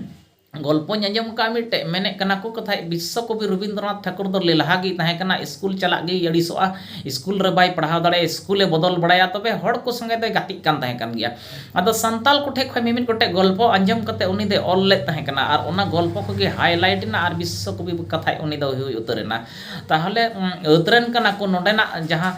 ᱜᱚᱞᱯᱚᱧ ᱟᱸᱡᱚᱢ ᱟᱠᱟᱫᱼᱟ ᱢᱤᱫᱴᱮᱡ, ᱢᱮᱱᱮᱫ ᱠᱟᱱᱟ ᱠᱚ ᱠᱟᱛᱷᱟᱡ ᱵᱤᱥᱥᱚ ᱠᱚᱵᱤ ᱨᱚᱵᱤᱱᱫᱨᱚᱱᱟᱛᱷ ᱴᱷᱟᱠᱩᱨ ᱫᱚ ᱞᱮᱞᱦᱟ ᱜᱮᱭ ᱛᱟᱦᱮᱸ ᱠᱟᱱᱟ, ᱤᱥᱠᱩᱞ ᱪᱟᱞᱟᱜ ᱜᱮᱭ ᱟᱹᱲᱤᱥᱚᱜᱼᱟ, ᱤᱥᱠᱩᱞ ᱨᱮ ᱵᱟᱭ ᱯᱟᱲᱦᱟᱣ ᱫᱟᱲᱮᱭᱟᱜᱼᱟ, ᱤᱥᱠᱩᱞ ᱮ ᱵᱚᱫᱚᱞ ᱵᱟᱲᱟᱭᱟ ᱛᱚᱵᱮ ᱦᱚᱲ ᱠᱚ ᱥᱚᱸᱜᱮ ᱫᱚᱭ ᱜᱟᱛᱮᱜ ᱠᱟᱱ ᱛᱟᱦᱮᱸ ᱠᱟᱱ ᱜᱮᱭᱟ᱾ ᱟᱫᱚ ᱥᱟᱱᱛᱟᱞ ᱠᱚᱴᱷᱮᱡ ᱠᱷᱚᱡ ᱢᱤᱢᱤᱫ ᱜᱚᱴᱮᱡ ᱜᱚᱞᱯᱚ ᱟᱸᱡᱚᱢ ᱠᱟᱛᱮ ᱩᱱᱤ ᱫᱚᱭ ᱚᱞ ᱞᱮᱫ ᱛᱟᱦᱮᱸ ᱠᱟᱱᱟ ᱟᱨ ᱚᱱᱟ ᱜᱚᱞᱯᱚ ᱠᱚᱜᱮ ᱦᱟᱭ ᱞᱟᱭᱤᱴ ᱮᱱᱟ ᱟᱨ ᱵᱤᱥᱥᱚ ᱠᱚᱵᱤ ᱠᱟᱛᱷᱟᱡ ᱩᱱᱤ ᱫᱚᱭ ᱦᱩᱭ ᱩᱛᱟᱹᱨ ᱮᱱᱟ᱾ ᱛᱟᱦᱚᱞᱮ ᱟᱹᱫᱽ ᱨᱮᱱ ᱠᱟᱱᱟ ᱠᱚ ᱱᱚᱰᱮᱱᱟᱜ ᱡᱟᱦᱟᱸ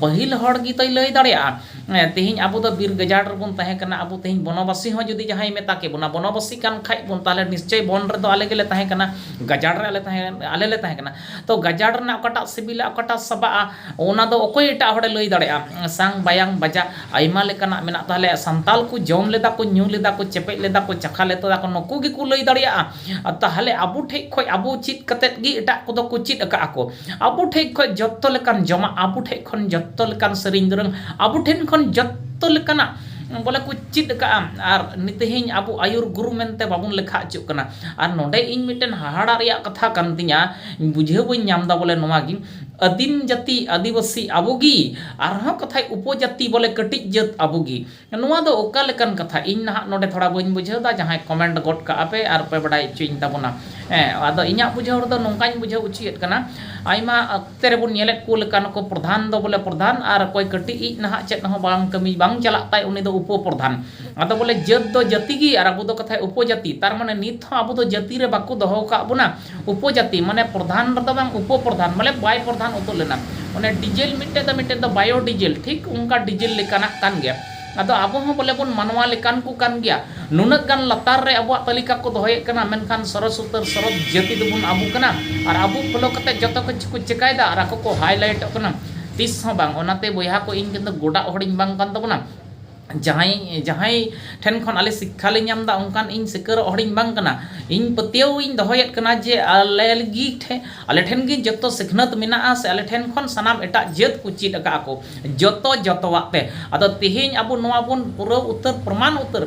ᱯᱟᱹᱦᱤᱞ ᱦᱚᱲ ᱜᱮ ᱛᱚᱭ ᱞᱟᱹᱭ ᱫᱟᱲᱮᱭᱟᱜᱼᱟ᱾ ᱛᱮᱦᱮᱧ ᱟᱵᱚ ᱫᱚ ᱵᱤᱨ ᱜᱟᱡᱟᱲ ᱨᱮᱵᱚᱱ ᱛᱟᱦᱮᱸ ᱠᱟᱱᱟ ᱟᱵᱚ ᱛᱮᱦᱮᱧ ᱵᱚᱱᱚᱵᱟᱥᱤ ᱦᱚᱸ ᱡᱩᱫᱤ ᱡᱟᱦᱟᱸᱭ ᱢᱮᱛᱟ ᱠᱮ ᱵᱚᱱᱟ ᱵᱚᱱᱚᱵᱟᱥᱤ ᱠᱟᱱ ᱠᱷᱟᱡ ᱵᱚᱱ ᱛᱟᱦᱚᱞᱮ ᱱᱤᱥᱪᱚᱭ ᱵᱚᱱ ᱨᱮᱫᱚ ᱟᱞᱮ ᱜᱮᱞᱮ ᱛᱟᱦᱮᱸ ᱠᱟᱱᱟ ᱜᱟᱡᱟᱲ ᱨᱮ ᱟᱞᱮ ᱛᱟᱦᱮᱸ ᱟᱞᱮ ᱞᱮ ᱛᱟᱦᱮᱸ ᱠᱟᱱᱟ ᱛᱚ ᱜᱟᱡᱟᱲ ᱨᱮᱱᱟᱜ ᱚᱠᱟᱴᱟᱜ ᱥᱤᱵᱤᱞᱟ ᱚᱠᱟᱴᱟᱜ ᱥᱟᱵᱟᱜᱼᱟ ᱚᱱᱟ ᱫᱚ ᱚᱠᱚᱭ ᱮᱴᱟᱜ ᱦᱚᱲᱮ ᱞᱟᱹᱭ ᱫᱟᱲᱮᱭᱟᱜᱼᱟ ᱥᱟᱝ ᱵᱟᱭᱟᱝ ᱵᱟᱡᱟᱜ ᱟᱭᱢᱟ ᱞᱮᱠᱟᱱᱟᱜ ᱢᱮᱱᱟᱜ ᱛᱟᱞᱮᱭᱟ ᱥᱟᱱᱛᱟᱲ ᱠᱚ ᱡᱚᱢ ᱞᱮᱫᱟ ᱠᱚ ᱧᱩ ᱞᱮᱫᱟ ᱠᱚ ᱪᱮᱯᱮᱡ ᱞᱮᱫᱟ ᱠᱚ ᱪᱟᱠᱷᱟ ᱞᱮᱫᱟ ᱠᱚ ᱱᱩᱠᱩ ᱜᱮᱠᱚ ᱞᱟᱹᱭ ᱫᱟᱲᱮᱭᱟᱜᱼᱟ ᱛᱟᱦᱚᱞᱮ ᱟᱵᱚ ᱴᱷᱮᱡ ᱠᱷᱚᱡ ᱟᱵᱚ ᱪᱮᱫ ᱠᱟᱛᱮᱫ ᱜᱮ ᱮᱴᱟᱜ ᱠᱚᱫᱚ ᱠᱚ ᱪᱮᱫ ᱟᱠᱟᱫ ᱟᱠᱚ ᱟᱵᱚ ᱴᱷᱮᱡ ᱠᱷᱚᱡ ᱡᱚᱛᱚ ᱞᱮᱠᱟᱱ ᱡᱚᱢᱟᱜ ᱟᱵᱚ ᱴᱷᱮᱡ ᱠᱷᱚᱱ ᱡᱚᱛᱚ ᱞᱮᱠᱟᱱ ᱥᱮᱨᱮᱧ ᱫᱩᱨᱟᱹᱝ ᱟᱵᱚ ᱴᱷᱮᱱ ᱠᱷᱚᱱ ᱡᱚᱛᱚ ᱞᱮᱠᱟᱱᱟᱜ ᱵᱚᱞᱮ ᱠᱚ ᱪᱮᱫ ᱟᱠᱟᱫᱼᱟ ᱟᱨ ᱛᱮᱦᱮᱧ ᱟᱵᱚ ᱟᱹᱭᱩᱨ ᱜᱩᱨᱩ ᱢᱮᱱᱛᱮ ᱵᱟᱵᱚᱱ ᱞᱮᱠᱷᱟ ᱦᱚᱪᱚᱜ ᱠᱟᱱᱟ ᱟᱨ ᱱᱚᱰᱮ ᱤᱧ ᱢᱤᱫᱴᱮᱱ ᱦᱟᱦᱟᱲᱟᱜ ᱨᱮᱭᱟᱜ ᱠᱟᱛᱷᱟ ᱠᱟᱱ ᱛᱤᱧᱟᱹ ᱵᱩᱡᱷᱟᱹᱣ ᱵᱟᱹᱧ ᱧᱟᱢᱫᱟ ᱵᱚᱞᱮ ᱱᱚᱣᱟ ᱜᱮ ᱟᱹᱫᱤᱢ ᱡᱟᱹᱛᱤ ᱟᱹᱫᱤᱵᱟᱹᱥᱤ ᱟᱵᱚ ᱜᱮ ᱟᱨᱦᱚᱸ ᱠᱟᱛᱷᱟᱡ ᱩᱯᱚᱡᱟᱹᱛᱤ ᱵᱚᱞᱮ ᱠᱟᱹᱴᱤᱡ ᱡᱟᱹᱛ ᱟᱵᱚ ᱜᱮ ᱱᱚᱣᱟ ᱫᱚ ᱚᱠᱟ ᱞᱮᱠᱟᱱ ᱠᱟᱛᱷᱟ? ᱤᱧ ᱱᱟᱦᱟᱜ ᱱᱚᱰᱮ ᱛᱷᱚᱲᱟ ᱵᱟᱹᱧ ᱵᱩᱡᱷᱟᱹᱣ ᱮᱫᱟ, ᱡᱟᱦᱟᱸᱭ ᱠᱚᱢᱮᱱᱴ ᱜᱚᱫ ᱠᱟᱜᱼᱟ ᱯᱮ ᱟᱨ ᱯᱮ ᱵᱟᱰᱟᱭ ᱚᱪᱚᱭᱤᱧ ᱛᱟᱵᱚᱱᱟ᱾ ᱦᱮᱸ ᱟᱫᱚ ᱤᱧᱟᱜ ᱵᱩᱡᱷᱟᱹᱣ ᱨᱮᱫᱚ ᱱᱚᱝᱠᱟᱧ ᱵᱩᱡᱷᱟᱹᱣ ᱚᱪᱚᱭᱮᱫ ᱠᱟᱱᱟ, ᱟᱭᱢᱟ ᱚᱠᱛᱮ ᱨᱮ ᱵᱚᱱ ᱧᱮᱞᱮᱫ ᱠᱚ ᱞᱮᱠᱟ ᱱᱩᱠᱩ ᱯᱨᱚᱫᱷᱟᱱ ᱫᱚ ᱵᱚᱞᱮ ᱯᱨᱚᱫᱷᱟᱱ ᱟᱨ ᱚᱠᱚᱭ ᱠᱟᱹᱴᱤᱡ ᱤᱡ ᱱᱟᱦᱟᱜ ᱪᱮᱫ ᱦᱚᱸ ᱵᱟᱝ ᱠᱟᱹᱢᱤ ᱵᱟᱝ ᱪᱟᱞᱟᱜ ᱛᱟᱭ ᱩᱱᱤ ᱫᱚ ᱩᱯᱚ ᱯᱨᱚᱫᱷᱟᱱ᱾ ᱟᱫᱚ ᱵᱚᱞᱮ ᱡᱟᱹᱛ ᱫᱚ ᱡᱟᱹᱛᱤ ᱜᱮ ᱟᱨ ᱟᱵᱚ ᱫᱚ ᱠᱟᱛᱷᱟᱡ ᱩᱯᱚ ᱡᱟᱹᱛᱤ᱾ ᱛᱟᱨᱢᱟᱱᱮ ᱱᱤᱛ ᱦᱚᱸ ᱟᱵᱚ ᱫᱚ ᱡᱟᱹᱛᱤ ᱨᱮ ᱵᱟᱠᱚ ᱫᱚᱦᱚ ᱟᱠᱟᱫ ᱵᱚᱱᱟ᱾ ᱩᱯᱚᱡᱟᱛᱤ ᱢᱟᱱᱮ ᱯᱨᱚᱫᱷᱟᱱ ᱨᱮᱫᱚ ᱵᱟᱝ ᱩᱯᱚᱯᱨᱚᱫᱷᱟᱱ ᱢᱟᱱᱮ ᱵᱟᱭ ᱯᱨᱚᱫᱷᱟᱱ ᱩᱛᱟᱹᱨ ᱞᱮᱱᱟ ᱚᱱᱮ ᱰᱤᱡᱮᱞ ᱢᱤᱫᱴᱮᱡ ᱫᱚ ᱢᱤᱫᱴᱮᱡ ᱫᱚ ᱵᱟᱭᱳ ᱰᱤᱡᱮᱞ ᱴᱷᱤᱠ ᱚᱱᱠᱟ ᱰᱤᱡᱮᱞ ᱞᱮᱠᱟᱱᱟᱜ ᱠᱟᱱ ᱜᱮᱭᱟ ᱟᱫᱚ ᱟᱵᱚ ᱦᱚᱸ ᱵᱚᱞᱮ ᱵᱚᱱ ᱢᱟᱱᱣᱟ ᱞᱮᱠᱟᱱ ᱠᱚ ᱠᱟᱱ ᱜᱮᱭᱟ ᱱᱩᱱᱟᱹᱜ ᱜᱟᱱ ᱞᱟᱛᱟᱨ ᱨᱮ ᱟᱵᱚᱣᱟᱜ ᱛᱟᱹᱞᱤᱠᱟ ᱠᱚ ᱫᱚᱦᱚᱭᱮᱫ ᱠᱟᱱᱟ ᱢᱮᱱᱠᱷᱟᱱ ᱥᱚᱨᱚᱥ ᱩᱛᱟᱹᱨ ᱥᱚᱨᱚᱥ ᱡᱟᱹᱛᱤ ᱫᱚᱵᱚᱱ ᱟᱵᱚ ᱠᱟᱱᱟ ᱟᱨ ᱟᱵᱚ ᱯᱷᱳᱞᱳ ᱠᱟᱛᱮ ᱡᱚᱛᱚ ᱠᱤᱪᱷᱩ ᱠᱚ ᱪᱤᱠᱟᱹᱭᱮᱫᱟ ᱟᱨ ᱟᱠᱚ ᱠᱚ ᱦᱟᱭᱞᱟᱭᱤᱴᱚᱜ ᱠᱟᱱᱟ ᱛᱤᱥ ᱦᱚᱸ ᱵᱟᱝ ᱚᱱᱟᱛᱮ ᱵᱚᱭᱦᱟ ᱠᱚ ᱤᱧ ᱫᱚ ᱜᱚᱰᱟᱜ ᱦᱚᱲᱤᱧ ᱵᱟᱝ ᱠᱟᱱ ᱛᱟᱵᱚᱱᱟ ᱡᱟᱦᱟᱸᱭ ᱡᱟᱦᱟᱸᱭ ᱴᱷᱮᱱ ᱠᱷᱚᱱ ᱟᱞᱮ ᱥᱤᱠᱠᱷᱟ ᱞᱮ ᱧᱟᱢ ᱮᱫᱟ ᱚᱱᱠᱟᱱ ᱤᱧ ᱥᱤᱠᱟᱹᱨᱚᱜ ᱦᱚᱲ ᱤᱧ ᱵᱟᱝ ᱠᱟᱱᱟ ᱤᱧ ᱯᱟᱹᱛᱭᱟᱹᱣ ᱤᱧ ᱫᱚᱦᱚᱭᱮᱫ ᱠᱟᱱᱟ ᱡᱮ ᱟᱞᱮ ᱜᱮ ᱴᱷᱮᱱ ᱟᱞᱮ ᱴᱷᱮᱱ ᱜᱮ ᱡᱚᱛᱚ ᱥᱤᱠᱷᱱᱟᱹᱛ ᱢᱮᱱᱟᱜᱼᱟ ᱥᱮ ᱟᱞᱮ ᱴᱷᱮᱱ ᱠᱷᱚᱱ ᱥᱟᱱᱟᱢ ᱮᱴᱟᱜ ᱡᱟᱹᱛ ᱠᱚ ᱪᱮᱫ ᱟᱠᱟᱫᱼᱟ ᱠᱚ ᱡᱚᱛᱚ ᱡᱚᱛᱚᱣᱟᱜ ᱛᱮ ᱟᱫᱚ ᱛᱮᱦᱮᱧ ᱟᱵᱚ ᱱᱚᱣᱟ ᱵᱚᱱ ᱯᱩᱨᱟᱹᱣ ᱩᱛᱟᱹᱨ ᱯᱨᱚᱢᱟᱱ ᱩᱛᱟᱹᱨ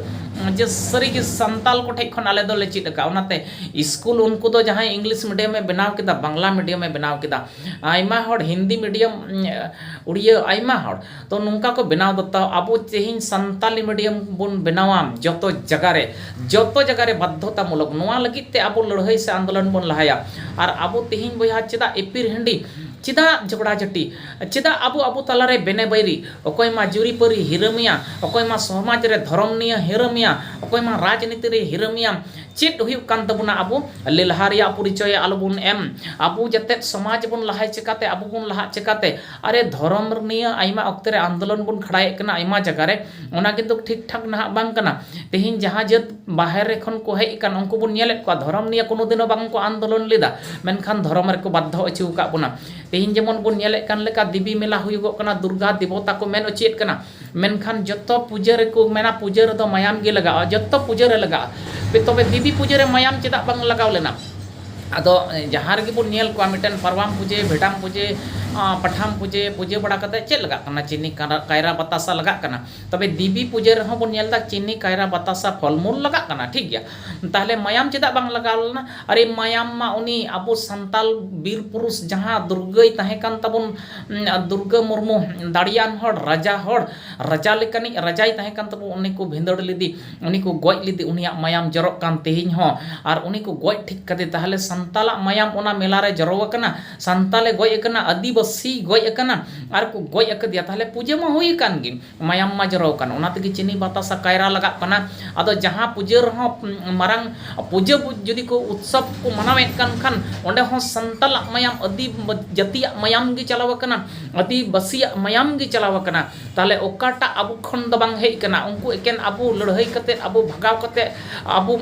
ᱡᱮ ᱥᱟᱹᱨᱤ ᱜᱮ ᱥᱟᱱᱛᱟᱲ ᱠᱚᱴᱷᱮᱱ ᱠᱷᱚᱱ ᱟᱞᱮ ᱫᱚᱞᱮ ᱪᱮᱫ ᱟᱠᱟᱫᱼᱟ ᱚᱱᱟᱛᱮ ᱥᱠᱩᱞ ᱩᱱᱠᱩ ᱫᱚ ᱡᱟᱦᱟᱸᱭ ᱤᱝᱞᱤᱥ ᱢᱤᱰᱤᱭᱟᱢᱮ ᱵᱮᱱᱟᱣ ᱠᱮᱫᱟ ᱵᱟᱝᱞᱟ ᱢᱤᱰᱤᱭᱟᱢᱮ ᱵᱮᱱᱟᱣ ᱠᱮᱫᱟ ᱟᱭᱢᱟ ᱦᱚᱲ ᱦᱤᱱᱫᱤ ᱢᱤᱰᱤᱭᱟᱢ ᱩᱲᱤᱭᱟᱹ ᱟᱭᱢᱟ ᱦᱚᱲ ᱛᱚ ᱱᱚᱝᱠᱟ ᱠᱚ ᱵᱮᱱᱟᱣ ᱫᱚ ᱛᱟᱣ ᱟᱵᱚ ᱛᱮᱦᱮᱧ ᱥᱟᱱᱛᱟᱞᱤ ᱢᱤᱰᱤᱭᱟᱢ ᱵᱚᱱ ᱵᱮᱱᱟᱣᱟ ᱡᱚᱛᱚ ᱡᱟᱭᱜᱟ ᱨᱮ ᱡᱚᱛᱚ ᱡᱟᱭᱜᱟ ᱨᱮ ᱵᱟᱫᱽᱫᱷᱚᱛᱟ ᱢᱩᱞᱚᱠ ᱱᱚᱣᱟ ᱞᱟᱹᱜᱤᱫ ᱛᱮ ᱟᱵᱚ ᱞᱟᱹᱲᱦᱟᱹᱭ ᱥᱮ ᱟᱱᱫᱳᱞᱚᱱ ᱵᱚᱱ ᱞᱟᱦᱟᱭᱟ ᱟᱨ ᱟᱵᱚ ᱛᱮᱦᱮᱧ ᱵᱚᱭᱦᱟ ᱪᱮᱫᱟᱜ ᱮᱯᱤᱨ ᱦᱤᱱᱰᱤ ᱪᱮᱫᱟᱜ ᱡᱷᱚᱜᱽᱲᱟ ᱡᱷᱟᱹᱴᱤ ᱪᱮᱫᱟᱜ ᱟᱵᱚ ᱟᱵᱚ ᱛᱟᱞᱟ ᱨᱮ ᱵᱮᱱᱮ ᱵᱟᱹᱭᱨᱤ ᱚᱠᱚᱭ ᱢᱟ ᱡᱩᱨᱤ ᱯᱟᱹᱨᱤ ᱦᱤᱨᱟᱹᱢᱤᱭᱟ ᱚᱠᱚᱭ ᱢᱟ ᱥᱚᱢᱟᱡᱽ ᱨᱮ ᱫᱷᱚᱨᱚᱢ ᱱᱤᱭᱟᱹ ᱦᱤᱨᱟᱹᱢᱤᱭᱟ ᱚᱠᱚᱭ ᱢᱟ ᱨᱟᱡᱽᱱᱤᱛᱤ ᱨᱮ ᱦᱤᱨᱟᱹᱢᱤᱭᱟ ᱪᱮᱫ ᱦᱩᱭᱩᱜ ᱠᱟᱱ ᱛᱟᱵᱚᱱᱟ ᱟᱵᱚ ᱞᱮᱞᱦᱟ ᱨᱮᱭᱟᱜ ᱯᱚᱨᱤᱪᱚᱭ ᱟᱞᱚ ᱵᱚᱱ ᱮᱢ ᱟᱵᱚ ᱡᱟᱛᱮ ᱥᱚᱢᱟᱡᱽ ᱵᱚᱱ ᱞᱟᱦᱟᱭ ᱪᱤᱠᱟᱹᱛᱮ ᱟᱵᱚ ᱵᱚᱱ ᱞᱟᱦᱟᱜ ᱪᱤᱠᱟᱹᱛᱮ ᱟᱨᱮ ᱫᱷᱚᱨᱚᱢ ᱱᱤᱭᱟᱹ ᱟᱭᱢᱟ ᱚᱠᱛᱮ ᱨᱮ ᱟᱱᱫᱳᱞᱚᱱ ᱵᱚᱱ ᱠᱷᱟᱲᱟᱭᱮᱫ ᱠᱟᱱᱟ ᱟᱭᱢᱟ ᱡᱟᱭᱜᱟ ᱨᱮ ᱚᱱᱟ ᱠᱤᱱᱛᱩ ᱴᱷᱤᱠ ᱴᱷᱟᱠ ᱱᱟᱦᱟᱜ ᱵᱟᱝ ᱠᱟᱱᱟ ᱛᱮᱦᱮᱧ ᱡᱟᱦᱟᱸ ᱡᱟᱹᱛ ᱵᱟᱦᱨᱮ ᱠᱷᱚᱱ ᱠᱚ ᱦᱮᱡ ᱟᱠᱟᱱ ᱩᱱᱠᱩ ᱵᱚᱱ ᱧᱮᱞᱮᱫ ᱠᱚᱣᱟ ᱫᱷᱚᱨᱚᱢ ᱱᱤᱭᱮ ᱠᱳᱱᱳ ᱫᱤᱱ ᱦᱚᱸ ᱵᱟᱝ ᱠᱚ ᱟᱱᱫᱳᱞᱚᱱ ᱞᱮᱫᱟ ᱢᱮᱱᱠᱷᱟᱱ ᱫᱷᱚᱨᱚᱢ ᱨᱮᱠᱚ ᱵᱟᱫᱽᱫᱷᱚ ᱦᱚᱪᱚ ᱟᱠᱟᱫ ᱵᱚᱱᱟ ᱛᱮᱦᱮᱧ ᱡᱮᱢᱚᱱ ᱵᱚᱱ ᱧᱮᱞᱮᱫ ᱠᱟᱱ ᱞᱮᱠᱟ ᱫᱮᱵᱤ ᱢᱮᱞᱟ ᱦᱩᱭᱩᱜᱚᱜ ᱠᱟᱱᱟ ᱫᱩᱨᱜᱟ ᱫᱮᱵᱚᱛᱟ ᱠᱚ ᱢᱮᱱ ᱦᱚᱪᱚᱭᱮᱫ ᱠᱟᱱᱟ ᱢᱮᱱᱠᱷᱟᱱ ᱡᱚᱛᱚ ᱯᱩᱡᱟᱹ ᱨᱮᱠᱚ ᱢᱮᱱᱟ ᱯᱩᱡᱟᱹ ᱨᱮᱫᱚ ᱢᱟᱭᱟᱢ ᱜᱮ ᱞᱟᱜᱟᱜᱼᱟ ᱡᱚᱛᱚ ᱯᱩᱡᱟᱹ ᱨᱮ ᱞᱟᱜᱟᱜᱼᱟ ᱛᱚᱵᱮ ᱫᱮᱵᱤ ᱯᱩᱡᱟᱹ ᱨᱮ ᱢᱟᱭᱟᱢ ᱪᱮᱫᱟᱜ ᱵᱟᱝ ᱞᱟᱜᱟᱣ ᱞᱮᱱᱟ ᱟᱫᱚ ᱡᱟᱦᱟᱸ ᱨᱮᱜᱮ ᱵᱚᱱ ᱧᱮᱞ ᱠᱚᱣᱟ ᱢᱤᱫᱴᱮᱱ ᱯᱟᱨᱣᱟᱱ ᱯᱩᱡᱟᱹ ᱵᱷᱮᱰᱟᱢ ᱯᱩᱡᱟᱹ ᱯᱟᱴᱷᱟᱢ ᱯᱩᱡᱟᱹ ᱯᱩᱡᱟᱹ ᱵᱟᱲᱟ ᱠᱟᱛᱮᱫ ᱪᱮᱫ ᱞᱟᱜᱟᱜ ᱠᱟᱱᱟ ᱪᱤᱱᱤ ᱠᱟᱭᱨᱟ ᱵᱟᱛᱟᱥᱟ ᱞᱟᱜᱟᱜ ᱠᱟᱱᱟ ᱛᱚᱵᱮ ᱫᱮᱵᱤ ᱯᱩᱡᱟᱹ ᱨᱮᱦᱚᱸ ᱵᱚᱱ ᱧᱮᱞ ᱮᱫᱟ ᱪᱤᱱᱤ ᱠᱟᱭᱨᱟ ᱵᱟᱛᱟᱥᱟ ᱯᱷᱚᱞ ᱢᱩᱞ ᱞᱟᱜᱟᱜ ᱠᱟᱱᱟ ᱴᱷᱤᱠ ᱜᱮᱭᱟ ᱛᱟᱦᱚᱞᱮ ᱢᱟᱭᱟᱢ ᱪᱮᱫᱟᱜ ᱵᱟᱝ ᱞᱟᱜᱟᱣ ᱞᱮᱱᱟ ᱟᱨᱮ ᱢᱟᱭᱟᱢ ᱢᱟ ᱩᱱᱤ ᱟᱵᱚ ᱥᱟᱱᱛᱟᱲ ᱵᱤᱨ ᱯᱩᱨᱩᱥ ᱡᱟᱦᱟᱸ ᱫᱩᱨᱜᱟᱹᱭ ᱛᱟᱦᱮᱸ ᱠᱟᱱ ᱛᱟᱵᱚᱱ ᱫᱩᱨᱜᱟᱹ ᱢᱩᱨᱢᱩ ᱫᱟᱲᱮᱭᱟᱱ ᱦᱚᱲ ᱨᱟᱡᱟ ᱦᱚᱲ ᱨᱟᱡᱟ ᱞᱮᱠᱟᱱᱤᱡ ᱨᱟᱡᱟᱭ ᱛᱟᱦᱮᱸ ᱠᱟᱱ ᱛᱟᱵᱚᱱ ᱩᱱᱤ ᱠᱚ ᱵᱷᱤᱸᱫᱟᱹᱲ ᱞᱮᱫᱮ ᱩᱱᱤ ᱠᱚ ᱜᱚᱡ ᱞᱮᱫᱮ ᱩᱱᱤᱭᱟᱜ ᱢᱟᱭᱟᱢ ᱡᱚᱨᱚᱜ ᱠᱟᱱ ᱛᱮᱦᱮᱧ ᱦᱚᱸ ᱟᱨ ᱩᱱᱤ ᱠᱚ ᱜᱚᱡ ᱴᱷᱤᱠ ᱠᱟᱫᱮ ᱛᱟᱦᱚᱞᱮ ᱥᱟᱱᱛᱟᱞᱟᱜ ᱢᱟᱭᱟᱢ ᱚᱱᱟ ᱢᱮᱞᱟ ᱨᱮ ᱡᱚᱨᱚ ᱟᱠᱟᱱᱟ ᱥᱟᱱᱛᱟᱞᱮ ᱜᱚᱡ ᱟᱠᱟᱱᱟ ᱟᱹᱫᱤᱵᱟᱹᱥᱤᱭ ᱜᱚᱡ ᱟᱠᱟᱱᱟ ᱟᱨ ᱠᱚ ᱜᱚᱡ ᱟᱠᱟᱫᱮᱭᱟ ᱛᱟᱦᱚᱞᱮ ᱯᱩᱡᱟᱹ ᱢᱟ ᱦᱩᱭ ᱟᱠᱟᱱ ᱜᱮ ᱢᱟᱭᱟᱢ ᱢᱟ ᱡᱚᱨᱚ ᱟᱠᱟᱱ ᱚᱱᱟ ᱛᱮᱜᱮ ᱪᱤᱱᱤ ᱵᱟᱛᱟᱥᱟ ᱠᱟᱭᱨᱟ ᱞᱟᱜᱟᱜ ᱠᱟᱱᱟ ᱟᱫᱚ ᱡᱟᱦᱟᱸ ᱯᱩᱡᱟᱹ ᱨᱮᱦᱚᱸ ᱢᱟᱨᱟᱝ ᱯᱩᱡᱟᱹ ᱡᱩᱫᱤ ᱠᱚ ᱩᱛᱥᱚᱵᱽ ᱠᱚ ᱢᱟᱱᱟᱣᱮᱫ ᱠᱟᱱ ᱠᱷᱟᱱ ᱚᱸᱰᱮ ᱦᱚᱸ ᱥᱟᱱᱛᱟᱞᱟᱜ ᱢᱟᱭᱟᱢ ᱟᱹᱫᱤ ᱡᱟᱹᱛᱤᱭᱟᱜ ᱢᱟᱭᱟᱢ ᱜᱮ ᱪᱟᱞᱟᱣ ᱟᱠᱟᱱᱟ ᱟᱹᱫᱤᱵᱟᱹᱥᱤᱭᱟᱜ ᱢᱟᱭᱟᱢ ᱜᱮ ᱪᱟᱞᱟᱣ ᱟᱠᱟᱱᱟ ᱛᱟᱦᱚᱞᱮ ᱚᱠᱟᱴᱟᱜ ᱟᱵᱚ ᱠᱷᱚᱱ ᱫᱚ ᱵᱟᱝ ᱦᱮᱡ ᱠᱟᱱᱟ ᱩᱱᱠᱩ ᱮᱠᱮᱱ ᱟᱵᱚ ᱞᱟᱹᱲᱦᱟᱹᱭ ᱠᱟᱛᱮ ᱟᱵᱚ ᱵᱷᱟᱜᱟᱣ ᱠᱟᱛᱮ ᱟᱵᱚ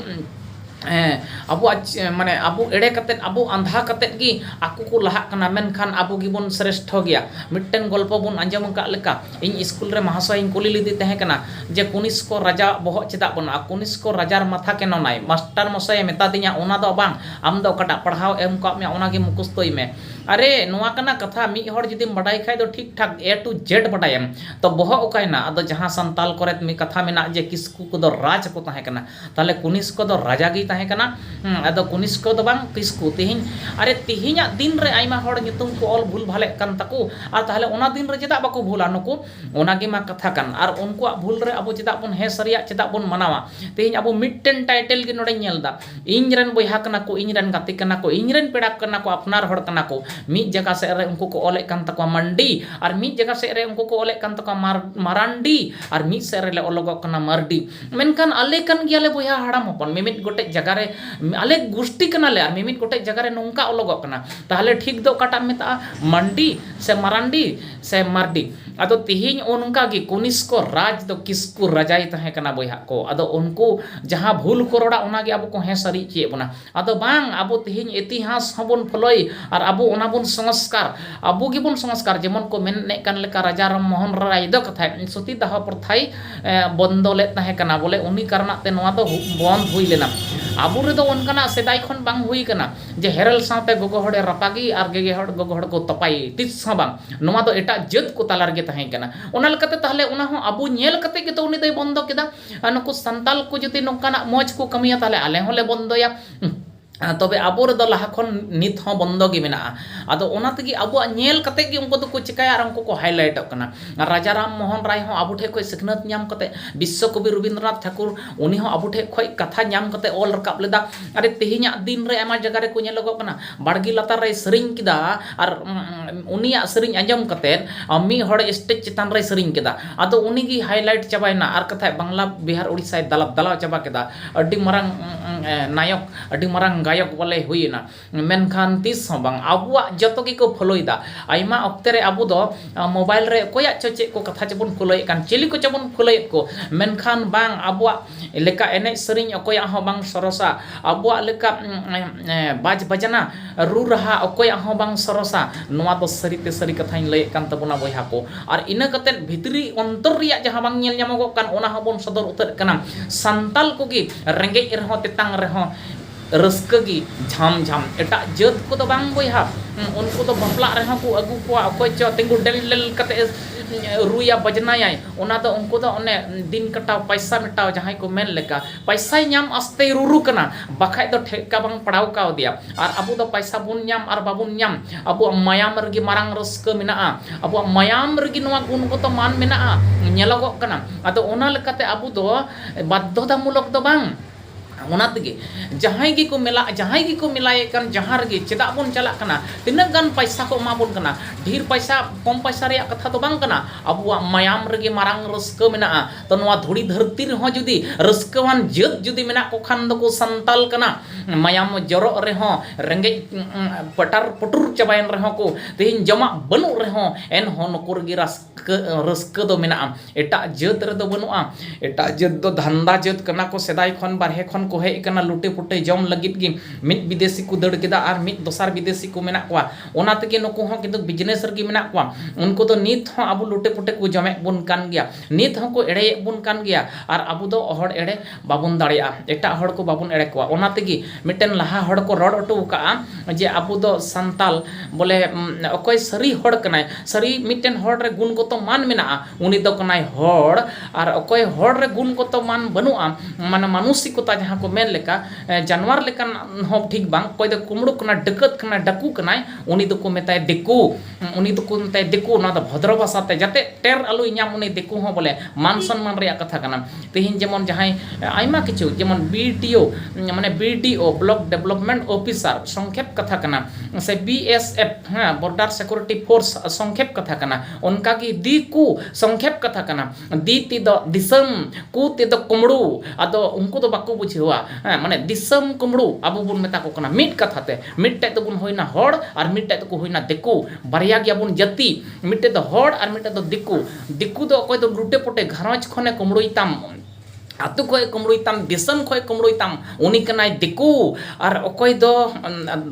ᱟᱵᱚᱣᱟᱜ ᱢᱟᱱᱮ ᱟᱵᱚ ᱮᱲᱮ ᱠᱟᱛᱮ ᱟᱵᱚ ᱟᱸᱫᱷᱟ ᱠᱟᱛᱮ ᱜᱮ ᱟᱠᱚ ᱠᱚ ᱞᱟᱦᱟᱜ ᱠᱟᱱᱟ ᱢᱮᱱᱠᱷᱟᱱ ᱟᱵᱚ ᱜᱮᱵᱚᱱ ᱥᱨᱮᱥᱴᱷᱚ ᱜᱮᱭᱟ ᱢᱤᱫᱴᱟᱹᱝ ᱜᱚᱞᱯᱚ ᱵᱚᱱ ᱟᱸᱡᱚᱢ ᱟᱠᱟᱫ ᱞᱮᱠᱟ ᱤᱧ ᱤᱥᱠᱩᱞ ᱨᱮ ᱢᱚᱦᱟᱥᱚᱭ ᱤᱧ ᱠᱩᱞᱤ ᱞᱮᱫᱮ ᱛᱟᱦᱮᱸ ᱠᱟᱱᱟ ᱡᱮ ᱠᱚᱱᱤᱥᱠᱚ ᱨᱟᱡᱟᱣᱟᱜ ᱵᱚᱦᱚᱜ ᱪᱮᱫᱟᱜ ᱵᱟᱹᱱᱩᱜᱼᱟ ᱠᱚᱱᱤᱥᱠᱚ ᱨᱟᱡᱟᱨ ᱢᱟᱛᱷᱟ ᱠᱮᱱᱳ ᱱᱟᱭ ᱢᱟᱥᱴᱟᱨ ᱢᱚᱥᱟᱭᱮ ᱢᱮᱛᱟ ᱫᱤᱧᱟᱹ ᱚᱱᱟ ᱫᱚ ᱵᱟᱝ ᱟᱢ ᱫᱚ ᱚᱠᱟᱴᱟᱜ ᱯᱟᱲᱦᱟᱣ ᱮᱢ ᱟᱠᱟᱫ ᱢᱮᱭᱟ ᱚᱱᱟ ᱜᱮ ᱢᱩᱠᱷᱚᱥᱛᱚᱭ ᱢᱮ ᱟᱨᱮ ᱱᱚᱣᱟ ᱠᱟᱱᱟ ᱠᱟᱛᱷᱟ ᱢᱤᱫ ᱦᱚᱲ ᱡᱩᱫᱤᱢ ᱵᱟᱰᱟᱭ ᱠᱷᱟᱡ ᱫᱚ ᱴᱷᱤᱠ ᱴᱷᱟᱠ ᱮ ᱴᱩ ᱡᱮᱰ ᱵᱟᱰᱟᱭᱟᱢ ᱛᱚ ᱵᱚᱦᱚᱜ ᱚᱠᱟᱭᱮᱱᱟ ᱟᱫᱚ ᱡᱟᱦᱟᱸ ᱥᱟᱱᱛᱟᱞ ᱠᱚᱨᱮ ᱢᱤᱫ ᱠᱟᱛᱷᱟ ᱢᱮᱱᱟᱜ ᱡᱮ ᱠᱤᱥᱠᱩ ᱠᱚᱫᱚ ᱨᱟᱡᱽ ᱠᱚ ᱛᱟᱦᱮᱸ ᱠᱟᱱᱟ ᱛᱟᱦᱚᱞᱮ ᱠᱩᱱᱤᱥᱠᱚ ᱫᱚ ᱨᱟᱡᱟ ᱜᱮᱭ ᱛᱟᱦᱮᱸ ᱠᱟᱱᱟ ᱟᱫᱚ ᱠᱩᱱᱤᱥᱠᱚ ᱫᱚ ᱵᱟᱝ ᱠᱤᱥᱠᱩ ᱛᱮᱦᱮᱧ ᱟᱨᱮ ᱛᱮᱦᱮᱧᱟᱜ ᱫᱤᱱ ᱨᱮ ᱟᱭᱢᱟ ᱦᱚᱲ ᱧᱩᱛᱩᱢ ᱠᱚ ᱚᱞ ᱵᱷᱩᱞ ᱵᱷᱟᱞᱮᱜ ᱠᱟᱱ ᱛᱟᱠᱚ ᱟᱨ ᱛᱟᱦᱚᱞᱮ ᱚᱱᱟ ᱫᱤᱱ ᱨᱮ ᱪᱮᱫᱟᱜ ᱵᱟᱠᱚ ᱵᱷᱩᱞᱟ ᱱᱩᱠᱩ ᱚᱱᱟ ᱜᱮ ᱢᱟ ᱠᱟᱛᱷᱟ ᱠᱟᱱ ᱟᱨ ᱩᱱᱠᱩᱣᱟᱜ ᱵᱷᱩᱞ ᱨᱮ ᱟᱵᱚ ᱪᱮᱫᱟᱜ ᱵᱚᱱ ᱦᱮᱸ ᱥᱟᱹᱨᱤᱭᱟᱜ ᱪᱮᱫᱟᱜ ᱵᱚᱱ ᱢᱟᱱᱟᱣᱟ ᱛᱮᱦᱮᱧ ᱟᱵᱚ ᱢᱤᱫᱴᱮᱱ ᱴᱟᱭᱴᱮᱞ ᱜᱮ ᱱᱚᱰᱮᱧ ᱧᱮᱞ ᱮᱫᱟ ᱤᱧ ᱨᱮᱱ ᱵᱚᱭᱦᱟ ᱠᱟᱱᱟ ᱠᱚ, ᱤᱧ ᱨᱮᱱ ᱜᱟᱛᱮ ᱠᱟᱱᱟ ᱠᱚ, ᱤᱧ ᱨᱮᱱ ᱯᱮᱲᱟ ᱠᱟᱱᱟ ᱠᱚ, ᱟᱯᱱᱟᱨ ᱦᱚᱲ ᱠᱟᱱᱟ ᱠᱚ᱾ ᱢᱤᱫ ᱡᱟᱭᱜᱟ ᱥᱮᱫ ᱨᱮ ᱩᱱᱠᱩ ᱠᱚ ᱚᱞᱮᱫ ᱠᱟᱱ ᱛᱟᱠᱚᱣᱟ ᱢᱟᱱᱰᱤ ᱟᱨ ᱢᱤᱫ ᱡᱟᱭᱜᱟ ᱥᱮᱫ ᱨᱮ ᱩᱱᱠᱩ ᱠᱚ ᱚᱞᱮᱫ ᱠᱟᱱ ᱛᱟᱠᱚᱣᱟ ᱢᱟᱨ ᱢᱟᱨᱟᱱᱰᱤ ᱟᱨ ᱢᱤᱫ ᱥᱮᱫ ᱨᱮᱞᱮ ᱚᱞᱚᱜᱚᱜ ᱠᱟᱱᱟ ᱢᱟᱨᱰᱤ᱾ ᱢᱮᱱᱠᱷᱟᱱ ᱟᱞᱮ ᱠᱟᱱ ᱜᱮᱭᱟᱞᱮ ᱵᱚᱭᱦᱟ ᱦᱟᱲᱟᱢ ᱦᱚᱯᱚᱱ᱾ ᱢᱤᱢᱤᱫ ᱜᱚᱴᱮᱡ ᱡᱟᱭᱜᱟ ᱨᱮ ᱟᱞᱮ ᱜᱩᱥᱴᱤ ᱠᱟᱱᱟ ᱞᱮ ᱟᱨ ᱢᱤᱢᱤᱫ ᱜᱚᱴᱮᱡ ᱡᱟᱭᱜᱟ ᱨᱮ ᱱᱚᱝᱠᱟ ᱚᱞᱚᱜᱚᱜ ᱠᱟᱱᱟ᱾ ᱛᱟᱦᱚᱞᱮ ᱴᱷᱤᱠ ᱫᱚ ᱚᱠᱟᱴᱟᱜ ᱮᱢ ᱢᱮᱛᱟᱜᱼᱟ ᱢᱟᱱᱰᱤ ᱥᱮ ᱢᱟᱨᱟᱱᱰᱤ? ᱥᱮᱢ ᱢᱟᱨᱰᱤ ᱟᱫᱚ ᱛᱤᱦᱤᱧ ᱚᱱᱠᱟ ᱜᱮ ᱠᱚᱱᱤᱥᱠᱚ ᱨᱟᱡᱽ ᱫᱚ ᱠᱤᱥᱠᱩ ᱨᱟᱡᱟᱭ ᱛᱟᱦᱮᱸ ᱠᱟᱱᱟ ᱵᱚᱭᱦᱟ ᱠᱚ ᱟᱫᱚ ᱩᱱᱠᱩ ᱡᱟᱦᱟᱸ ᱵᱷᱩᱞ ᱠᱚ ᱨᱚᱲᱟ ᱚᱱᱟ ᱜᱮ ᱟᱵᱚ ᱠᱚ ᱦᱮᱸ ᱥᱟᱹᱨᱤ ᱦᱚᱪᱚᱭᱮᱫ ᱵᱚᱱᱟ ᱟᱫᱚ ᱵᱟᱝ ᱟᱵᱚ ᱛᱤᱦᱤᱧ ᱤᱛᱤᱦᱟᱥ ᱦᱚᱸ ᱵᱚᱱ ᱯᱷᱚᱞᱳᱭ ᱟᱨ ᱟᱵᱚ ᱚᱱᱟ ᱵᱚᱱ ᱥᱚᱝᱥᱠᱟᱨ ᱟᱵᱚ ᱜᱮ ᱵᱚᱱ ᱥᱚᱝᱥᱠᱟᱨ ᱡᱮᱢᱚᱱ ᱠᱚ ᱢᱮᱱᱮᱫ ᱠᱟᱱ ᱞᱮᱠᱟ ᱨᱟᱡᱟ ᱨᱟᱢ ᱢᱳᱦᱚᱱ ᱨᱟᱭ ᱫᱚ ᱠᱟᱛᱷᱟᱭ ᱥᱚᱛᱤ ᱫᱟᱦᱚ ᱯᱨᱚᱛᱷᱟᱭ ᱵᱚᱱᱫᱚ ᱞᱮᱫ ᱛᱟᱦᱮᱸ ᱠᱟᱱᱟ ᱵᱚᱞᱮ ᱩᱱᱤ ᱠᱟᱨᱚᱱᱟᱜ ᱛᱮ ᱱᱚᱣᱟ ᱫᱚ ᱵᱚᱱᱫ ᱦᱩᱭ ᱞᱮᱱᱟ ᱟᱵᱚ ᱨᱮᱫᱚ ᱚᱱᱠᱟᱱᱟᱜ ᱥᱮᱫᱟᱭ ᱠᱷᱚᱱ ᱵᱟᱝ ᱦᱩᱭ ᱠᱟᱱᱟ ᱡᱮ ᱦᱮᱨᱮᱞ ᱥᱟᱶᱛᱮ ᱜᱚᱜᱚ ᱦᱚᱲᱮ ᱨᱟᱯᱟᱜᱮ ᱟᱨ ᱜᱮᱜᱮ ᱦᱚᱲ ᱜᱚᱜᱚ ᱦᱚᱲ ᱠᱚ ᱛᱚᱯᱟᱭᱮ ᱛᱤᱥ ᱦᱚᱸ ᱵᱟᱝ ᱱᱚᱣᱟ ᱫᱚ ᱮᱴᱟᱜ ᱡᱟᱹᱛ ᱠᱚ ᱛᱟᱞᱟ ᱨᱮᱜᱮ ᱛᱟᱦᱮᱸ ᱠᱟᱱᱟ ᱚᱱᱟ ᱞᱮᱠᱟᱛᱮ ᱛᱟᱦᱚᱞᱮ ᱚᱱᱟ ᱦᱚᱸ ᱟᱵᱚ ᱧᱮᱞ ᱠᱟᱛᱮᱫ ᱜᱮᱛᱚ ᱩᱱᱤ ᱫᱚᱭ ᱵᱚᱱᱫᱚ ᱠᱮᱫᱟ ᱟᱨ ᱱᱩᱠᱩ ᱥᱟᱱᱛᱟᱲ ᱠᱚ ᱡᱩᱫᱤ ᱱᱚᱝᱠᱟᱱᱟᱜ ᱢᱚᱡᱽ ᱠᱚ ᱠᱟᱹᱢᱤᱭᱟ ᱛᱟᱦᱚᱞᱮ ᱟᱞᱮ ᱦᱚᱸᱞᱮ ᱵᱚᱱᱫᱚᱭᱟ ᱛᱚᱵᱮ ᱟᱵᱚ ᱨᱮᱫᱚ ᱞᱟᱦᱟ ᱠᱷᱚᱱ ᱱᱤᱛ ᱦᱚᱸ ᱵᱚᱱᱫᱚ ᱜᱮ ᱢᱮᱱᱟᱜᱼᱟ ᱟᱫᱚ ᱚᱱᱟ ᱛᱮᱜᱮ ᱟᱵᱚᱣᱟᱜ ᱧᱮᱞ ᱠᱟᱛᱮᱫ ᱜᱮ ᱩᱱᱠᱩ ᱫᱚᱠᱚ ᱪᱤᱠᱟᱹᱭᱟ ᱟᱨ ᱩᱱᱠᱩ ᱠᱚ ᱦᱟᱭᱞᱟᱭᱤᱴᱚᱜ ᱠᱟᱱᱟ ᱨᱟᱡᱟ ᱨᱟᱢ ᱢᱳᱦᱚᱱ ᱨᱟᱭ ᱦᱚᱸ ᱟᱵᱚ ᱴᱷᱮᱱ ᱠᱷᱚᱱ ᱥᱤᱠᱷᱱᱟᱹᱛ ᱧᱟᱢ ᱠᱟᱛᱮᱫ ᱵᱤᱥᱥᱚ ᱠᱚᱵᱤ ᱨᱚᱵᱤᱱᱫᱨᱚᱱᱟᱛᱷ ᱴᱷᱟᱹᱠᱩᱨ ᱩᱱᱤ ᱦᱚᱸ ᱟᱵᱚ ᱴᱷᱮᱡ ᱠᱷᱚᱡ ᱠᱟᱛᱷᱟ ᱧᱟᱢ ᱠᱟᱛᱮ ᱚᱞ ᱨᱟᱠᱟᱵ ᱞᱮᱫᱟ ᱟᱨ ᱛᱮᱦᱮᱧᱟᱜ ᱫᱤᱱ ᱨᱮ ᱟᱭᱢᱟ ᱡᱟᱭᱜᱟ ᱨᱮᱠᱚ ᱧᱮᱞᱚᱜᱚᱜ ᱠᱟᱱᱟ ᱵᱟᱲᱜᱮ ᱞᱟᱛᱟᱨ ᱨᱮᱭ ᱥᱮᱨᱮᱧ ᱠᱮᱫᱟ ᱟᱨ ᱩᱱᱤᱭᱟᱜ ᱥᱮᱨᱮᱧ ᱟᱸᱡᱚᱢ ᱠᱟᱛᱮ ᱢᱤᱫ ᱦᱚᱲ ᱥᱴᱮᱡᱽ ᱪᱮᱛᱟᱱ ᱨᱮᱭ ᱥᱮᱨᱮᱧ ᱠᱮᱫᱟ ᱟᱫᱚ ᱩᱱᱤ ᱜᱮ ᱦᱟᱭᱞᱟᱭᱤᱴ ᱪᱟᱵᱟᱭᱮᱱᱟ ᱟᱨ ᱠᱟᱛᱷᱟᱡ ᱵᱟᱝᱞᱟ ᱵᱤᱦᱟᱨ ᱳᱰᱤᱥᱟᱭ ᱫᱟᱞᱟᱣ ᱪᱟᱵᱟ ᱠᱮᱫᱟ ᱟᱹᱰᱤ ᱢᱟᱨᱟᱝ ᱱᱟᱭᱚᱠ ᱟᱹᱰᱤ ᱢᱟᱨᱟᱝ ᱜᱟᱭᱚᱠ ᱵᱚᱞᱮ ᱦᱩᱭᱮᱱᱟ ᱢᱮᱱᱠᱷᱟᱱ ᱛᱤᱥ ᱦᱚᱸ ᱵᱟᱝ ᱟᱵᱚᱣᱟᱜ ᱡᱚᱛᱚ ᱜᱮᱠᱚ ᱯᱷᱳᱞᱳ ᱮᱫᱟ ᱟᱭᱢᱟ ᱚᱠᱛᱮ ᱨᱮ ᱟᱵᱚ ᱫᱚ ᱢᱳᱵᱟᱭᱤᱞ ᱨᱮ ᱚᱠᱚᱭᱟᱜ ᱪᱚ ᱪᱮᱫ ᱠᱚ ᱠᱟᱛᱷᱟ ᱪᱚᱵᱚᱱ ᱯᱷᱳᱞᱳᱭᱮᱫ ᱠᱟᱱ ᱪᱤᱞᱤ ᱠᱚᱪᱚ ᱵᱚᱱ ᱯᱷᱳᱞᱳᱭᱮᱫ ᱠᱚ ᱢᱮᱱᱠᱷᱟᱱ ᱵᱟᱝ ᱟᱵᱚᱣᱟᱜ ᱞᱮᱠᱟ ᱮᱱᱮᱡ ᱥᱮᱨᱮᱧ ᱚᱠᱚᱭᱟᱜ ᱦᱚᱸ ᱵᱟᱝ ᱥᱚᱨᱮᱥᱟ ᱟᱵᱚᱣᱟᱜ ᱞᱮᱠᱟ ᱵᱟᱡᱽ ᱵᱟᱡᱽᱱᱟ ᱨᱩ ᱨᱟᱦᱟ ᱚᱠᱚᱭᱟᱜ ᱦᱚᱸ ᱵᱟᱝ ᱥᱚᱨᱮᱥᱟ ᱱᱚᱣᱟ ᱫᱚ ᱥᱟᱹᱨᱤᱛᱮ ᱥᱟᱹᱨᱤ ᱠᱟᱛᱷᱟᱧ ᱞᱟᱹᱭᱮᱫ ᱠᱟᱱ ᱛᱟᱵᱚᱱᱟ ᱵᱚᱭᱦᱟ ᱠᱚ ᱟᱨ ᱤᱱᱟᱹ ᱠᱟᱛᱮᱫ ᱵᱷᱤᱛᱨᱤ ᱚᱱᱛᱚᱨ ᱨᱮᱭᱟᱜ ᱡᱟᱦᱟᱸ ᱵᱟᱝ ᱧᱮᱞ ᱧᱟᱢᱚᱜᱚᱜ ᱠᱟᱱ ᱚᱱᱟ ᱦᱚᱸᱵᱚᱱ ᱥᱚᱫᱚᱨ ᱩᱛᱟᱹᱨᱮᱫ ᱠᱟᱱᱟ ᱥᱟᱱᱛᱟᱲ ᱠᱚᱜᱮ ᱨᱮᱸᱜᱮᱡ ᱨᱮᱦᱚᱸ ᱛᱮᱛᱟᱝ ᱨᱮᱦᱚᱸ ᱨᱟᱹᱥᱠᱟᱹ ᱜᱮ ᱡᱷᱟᱢ ᱡᱷᱟᱢ᱾ ᱮᱴᱟᱜ ᱡᱟᱹᱛ ᱠᱚ ᱫᱚ ᱵᱟᱝ ᱵᱚᱭᱦᱟ᱾ ᱩᱱᱠᱩ ᱫᱚ ᱵᱟᱯᱞᱟᱜ ᱨᱮᱦᱚᱸ ᱠᱚ ᱟᱹᱜᱩ ᱠᱚᱣᱟ ᱚᱠᱚᱭ ᱪᱚ ᱛᱤᱸᱜᱩ ᱰᱮᱞ ᱰᱮᱞ ᱠᱟᱛᱮ ᱮ ᱨᱩᱭᱟ ᱵᱟᱡᱽᱱᱟᱭᱟᱭ᱾ ᱚᱱᱟ ᱫᱚ ᱩᱱᱠᱩ ᱫᱚ ᱚᱱᱮ ᱫᱤᱱ ᱠᱟᱴᱟᱣ ᱯᱟᱭᱥᱟ ᱢᱮᱴᱟᱣ ᱡᱟᱦᱟᱸᱭ ᱠᱚ ᱢᱮᱱ ᱞᱮᱠᱟ᱾ ᱯᱟᱭᱥᱟᱭ ᱧᱟᱢ ᱟᱥᱛᱮᱭ ᱨᱩᱨᱩ ᱠᱟᱱᱟ ᱵᱟᱠᱷᱟᱡ ᱫᱚ ᱴᱷᱮᱠᱠᱟ ᱵᱟᱝ ᱯᱟᱲᱟᱣ ᱠᱟᱣᱫᱮᱭᱟ᱾ ᱟᱨ ᱟᱵᱚ ᱫᱚ ᱯᱟᱭᱥᱟ ᱵᱚᱱ ᱧᱟᱢ ᱟᱨ ᱵᱟᱵᱚᱱ ᱧᱟᱢ ᱟᱵᱚᱣᱟᱜ ᱢᱟᱭᱟᱢ ᱨᱮᱜᱮ ᱢᱟᱨᱟᱝ ᱨᱟᱹᱥᱠᱟᱹ ᱢᱮᱱᱟᱜᱼᱟ᱾ ᱟᱵᱚᱣᱟᱜ ᱢᱟᱭᱟᱢ ᱨᱮᱜᱮ ᱱᱚᱣᱟ ᱜᱩᱱᱜᱚᱛᱚ ᱢᱟᱱ ᱢᱮᱱᱟᱜᱼᱟ ᱧᱮᱞᱚᱜᱚᱜ ᱠᱟᱱᱟ᱾ ᱟᱫᱚ ᱚᱱᱟ ᱞᱮᱠᱟᱛᱮ ᱟᱵᱚ ᱫᱚ ᱵᱟᱫᱽᱫᱷᱚᱛᱟ ᱢᱩᱞᱚᱠ ᱫᱚ ᱵᱟᱝ᱾ ᱚᱱᱟ ᱛᱮᱜᱮ ᱡᱟᱦᱟᱸᱭ ᱜᱮᱠᱚ ᱢᱮᱞᱟ ᱡᱟᱦᱟᱸᱭ ᱜᱮᱠᱚ ᱢᱮᱞᱟᱭᱮᱫ ᱠᱟᱱ ᱡᱟᱦᱟᱸ ᱨᱮᱜᱮ ᱪᱮᱫᱟᱜ ᱵᱚᱱ ᱪᱟᱞᱟᱜ ᱠᱟᱱᱟ ᱛᱤᱱᱟᱹᱜ ᱜᱟᱱ ᱯᱚᱭᱥᱟ ᱠᱚ ᱮᱢᱟ ᱵᱚᱱ ᱠᱟᱱᱟ ᱰᱷᱮᱨ ᱯᱚᱭᱥᱟ ᱠᱚᱢ ᱯᱚᱭᱥᱟ ᱨᱮᱭᱟᱜ ᱠᱟᱛᱷᱟ ᱫᱚ ᱵᱟᱝ ᱠᱟᱱᱟ ᱟᱵᱚᱣᱟᱜ ᱢᱟᱭᱟᱢ ᱨᱮᱜᱮ ᱢᱟᱨᱟᱝ ᱨᱟᱹᱥᱠᱟᱹ ᱢᱮᱱᱟᱜᱼᱟ ᱛᱚ ᱱᱚᱣᱟ ᱫᱷᱩᱲᱤ ᱫᱷᱟᱹᱨᱛᱤ ᱨᱮᱦᱚᱸ ᱡᱩᱫᱤ ᱨᱟᱹᱥᱠᱟᱹᱣᱟᱱ ᱡᱟᱹᱛ ᱡᱩᱫᱤ ᱢᱮᱱᱟᱜ ᱠᱚ ᱠᱷᱟᱱ ᱫᱚᱠᱚ ᱥᱟᱱᱛᱟᱲ ᱠᱟᱱᱟ ᱢᱟᱭᱟᱢ ᱡᱚᱨᱚᱜ ᱨᱮᱦᱚᱸ ᱨᱮᱸᱜᱮᱡ ᱯᱟᱴᱟᱨ ᱯᱩᱴᱩᱨ ᱪᱟᱵᱟᱭᱮᱱ ᱨᱮᱦᱚᱸ ᱠᱚ ᱛᱮᱦᱮᱧ ᱡᱚᱢᱟᱜ ᱵᱟᱹᱱᱩᱜ ᱨᱮᱦᱚᱸ ᱮᱱᱦᱚᱸ ᱱᱩᱠᱩ ᱨᱮᱜᱮ ᱨᱟᱹᱥᱠᱟᱹ ᱨᱟᱹᱥᱠᱟᱹ ᱨᱟᱹᱥᱠᱟᱹ ᱫᱚ ᱢᱮᱱᱟᱜᱼᱟ ᱮᱴᱟᱜ ᱡᱟᱹᱛ ᱨᱮᱫᱚ ᱵᱟᱹᱱᱩᱜᱼᱟ ᱮᱴᱟᱜ ᱡᱟᱹᱛ ᱫᱚ ᱫᱷᱟᱱᱫᱟ ᱡᱟᱹᱛ ᱠᱟᱱᱟ ᱠᱚ ᱥᱮᱫᱟᱭ ᱠᱷᱚᱱ ᱵᱟᱦᱨᱮ ᱠᱷᱚᱱ ᱠᱚ ᱦᱮᱡ ᱠᱟᱱᱟ ᱞᱩᱴᱮ ᱯᱩᱴᱮ ᱡᱚᱢ ᱞᱟᱹᱜᱤᱫ ᱜᱮ ᱢᱤᱫ ᱵᱤᱫᱮᱥᱤ ᱠᱚ ᱫᱟᱹᱲ ᱠᱮᱫᱟ ᱟᱨ ᱢᱤᱫ ᱫᱚᱥᱟᱨ ᱵᱤᱫᱮᱥᱤ ᱠᱚ ᱢᱮᱱᱟᱜ ᱠᱚᱣᱟ ᱚᱱᱟ ᱛᱮᱜᱮ ᱱᱩᱠᱩ ᱦᱚᱸ ᱠᱤᱱᱛᱩ ᱵᱤᱡᱽᱱᱮᱥ ᱨᱮᱜᱮ ᱢᱮᱱᱟᱜ ᱠᱚᱣᱟ ᱩᱱᱠᱩ ᱫᱚ ᱱᱤᱛ ᱦᱚᱸ ᱟᱵᱚ ᱞᱩᱴᱮ ᱯᱩᱴᱮ ᱠᱚ ᱡᱚᱢᱮᱫ ᱵᱚᱱ ᱠᱟᱱ ᱜᱮᱭᱟ ᱱᱤᱛ ᱦᱚᱸᱠᱚ ᱮᱲᱮᱭᱮᱫ ᱵᱚᱱ ᱠᱟᱱ ᱜᱮᱭᱟ ᱟᱨ ᱟᱵᱚ ᱫᱚ ᱦᱚᱲ ᱮᱲᱮ ᱵᱟᱵᱚᱱ ᱫᱟᱲᱮᱭᱟᱜᱼᱟ ᱮᱴᱟᱜ ᱦᱚᱲ ᱠᱚ ᱵᱟᱵᱚᱱ ᱮᱲᱮ ᱠᱚᱣᱟ ᱚᱱᱟ ᱛᱮᱜᱮ ᱢᱤᱫᱴᱮᱱ ᱞᱟᱦᱟ ᱦᱚᱲ ᱠᱚ ᱨᱚᱲ ᱦᱚᱴᱚ ᱟᱠᱟᱫᱼᱟ ᱡᱮ ᱟᱵᱚ ᱫᱚ ᱥᱟᱱᱛᱟᱲ ᱵᱚᱞᱮ ᱚᱠᱚᱭ ᱥᱟᱹᱨᱤ ᱦᱚᱲ ᱠᱟᱱᱟᱭ ᱥᱟᱹᱨᱤ ᱢᱤᱫᱴᱮᱱ ᱦᱚᱲ ᱨᱮ ᱜᱩᱱ ᱜᱚᱛᱚ ᱢᱟᱱ ᱢᱮᱱᱟᱜᱼᱟ ᱩᱱᱤ ᱫᱚ ᱠᱟᱱᱟᱭ ᱦᱚᱲ ᱟᱨ ᱚᱠᱚᱭ ᱦᱚᱲ ᱨᱮ ᱜᱩᱱ ᱜᱚᱛᱚ ᱢᱟᱱ ᱵᱟᱹᱱᱩᱜᱼᱟ ᱢᱟᱱᱮ ᱢᱟᱱᱚᱥᱤᱠᱚᱛᱟ ᱡᱟᱦᱟᱸ ᱠᱚ ᱢᱮᱱ ᱞᱮᱠᱟ ᱡᱟᱱᱣᱟᱨ ᱞᱮᱠᱟᱱ ᱦᱚᱸ ᱴᱷᱤᱠ ᱵᱟᱝ ᱚᱠᱚᱭ ᱫᱚ ᱠᱩᱢᱵᱽᱲᱩ ᱠᱟᱱᱟᱭ ᱰᱟᱹᱠᱟᱹᱛ ᱠᱟᱱᱟᱭ ᱰᱟᱹᱠᱩ ᱠᱟᱱᱟᱭ ᱩᱱᱤ ᱫᱚᱠᱚ ᱢᱮᱛᱟᱭᱟ ᱫᱤᱠᱩ ᱩᱱᱤ ᱫᱚᱠᱚ ᱢᱮᱛᱟᱭᱟ ᱫᱤᱠᱩ ᱱᱚᱣᱟ ᱫᱚ ᱵᱷᱚᱫᱨᱚ ᱵᱷᱟᱥᱟ ᱛᱮ ᱡᱟᱛᱮ ᱴᱮᱨ ᱟᱞᱚᱭ ᱧᱟᱢ ᱩᱱᱤ ᱫᱤᱠᱩ ᱦᱚᱸ ᱵᱚᱞᱮ ᱢᱟᱱ ᱥᱚᱱᱢᱟᱱ ᱨᱮᱭᱟᱜ ᱠᱟᱛᱷᱟ ᱠᱟᱱᱟ ᱛᱮᱦᱮᱧ ᱡᱮᱢᱚᱱ ᱡᱟᱦᱟᱸᱭ ᱟᱭᱢᱟ ᱠᱤᱪᱷᱩ ᱡᱮᱢᱚᱱ ᱵᱤ ᱴᱤ ᱳ ᱢᱟᱱᱮ B D O block development officer ᱥᱚᱝᱠᱷᱮᱯ ᱠᱟᱛᱷᱟ ᱠᱟᱱᱟ ᱥᱮ ᱵᱤ ᱮᱥ ᱮᱯᱷ ᱦᱮᱸ ᱵᱚᱨᱰᱟᱨ ᱥᱤᱠᱩᱨᱤᱴᱤ ᱯᱷᱳᱨᱥ ᱥᱚᱝᱠᱷᱮᱯ ᱠᱟᱛᱷᱟ ᱠᱟᱱᱟ ᱚᱱᱠᱟ ᱜᱮ ᱫᱤᱠᱩ ᱥᱚᱝᱠᱷᱮᱯ ᱠᱟᱛᱷᱟ ᱠᱟᱱᱟ ᱫᱤ ᱛᱮᱫᱚ ᱫᱤᱥᱚᱢ ᱠᱩ ᱛᱮᱫᱚ ᱠᱩᱢᱲᱩ ᱟᱫᱚ ᱩᱱᱠᱩ ᱫᱚ ᱵᱟᱠᱚ ᱵᱩᱡᱷᱟᱹᱣᱟ ᱦᱮᱸ ᱢᱟᱱᱮ ᱫᱤᱥᱚᱢ ᱠᱩᱢᱲᱩ ᱟᱵᱚ ᱵᱚᱱ ᱢᱮᱛᱟ ᱠᱚ ᱠᱟᱱᱟ ᱢᱤᱫ ᱠᱟᱛᱷᱟ ᱛᱮ ᱢᱤᱫᱴᱮᱡ ᱫᱚᱵᱚᱱ ᱦᱩᱭᱱᱟ ᱦᱚᱲ ᱟᱨ ᱢᱤᱫᱴᱮᱡ ᱫᱚᱠᱚ ᱦᱩᱭᱱᱟ ᱫᱤᱠᱩ ᱵᱟᱨᱭᱟ ᱜᱮᱭᱟᱵᱚᱱ ᱡᱟᱹᱛᱤ ᱢᱤᱫᱴᱮᱡ ᱫᱚ ᱦᱚᱲ ᱟᱨ ᱢᱤᱫᱴᱮᱡ ᱫᱚ ᱫᱤᱠᱩ ᱫᱤᱠᱩ ᱫᱚ ᱚᱠᱚᱭ ᱫᱚ ᱞᱩᱴᱮ ᱯᱩᱴᱮ ᱜᱷᱟᱨᱚᱸᱡᱽ ᱠᱷᱚᱱᱮ ᱠᱩᱢᱲᱩᱭ ᱛᱟᱢ ᱟᱛᱳ ᱠᱷᱚᱡ ᱠᱩᱢᱲᱩᱭ ᱛᱟᱢ ᱫᱤᱥᱚᱢ ᱠᱷᱚᱡ ᱠᱩᱢᱲᱩᱭ ᱛᱟᱢ ᱩᱱᱤ ᱠᱟᱱᱟᱭ ᱫᱤᱠᱩ ᱟᱨ ᱚᱠᱚᱭ ᱫᱚ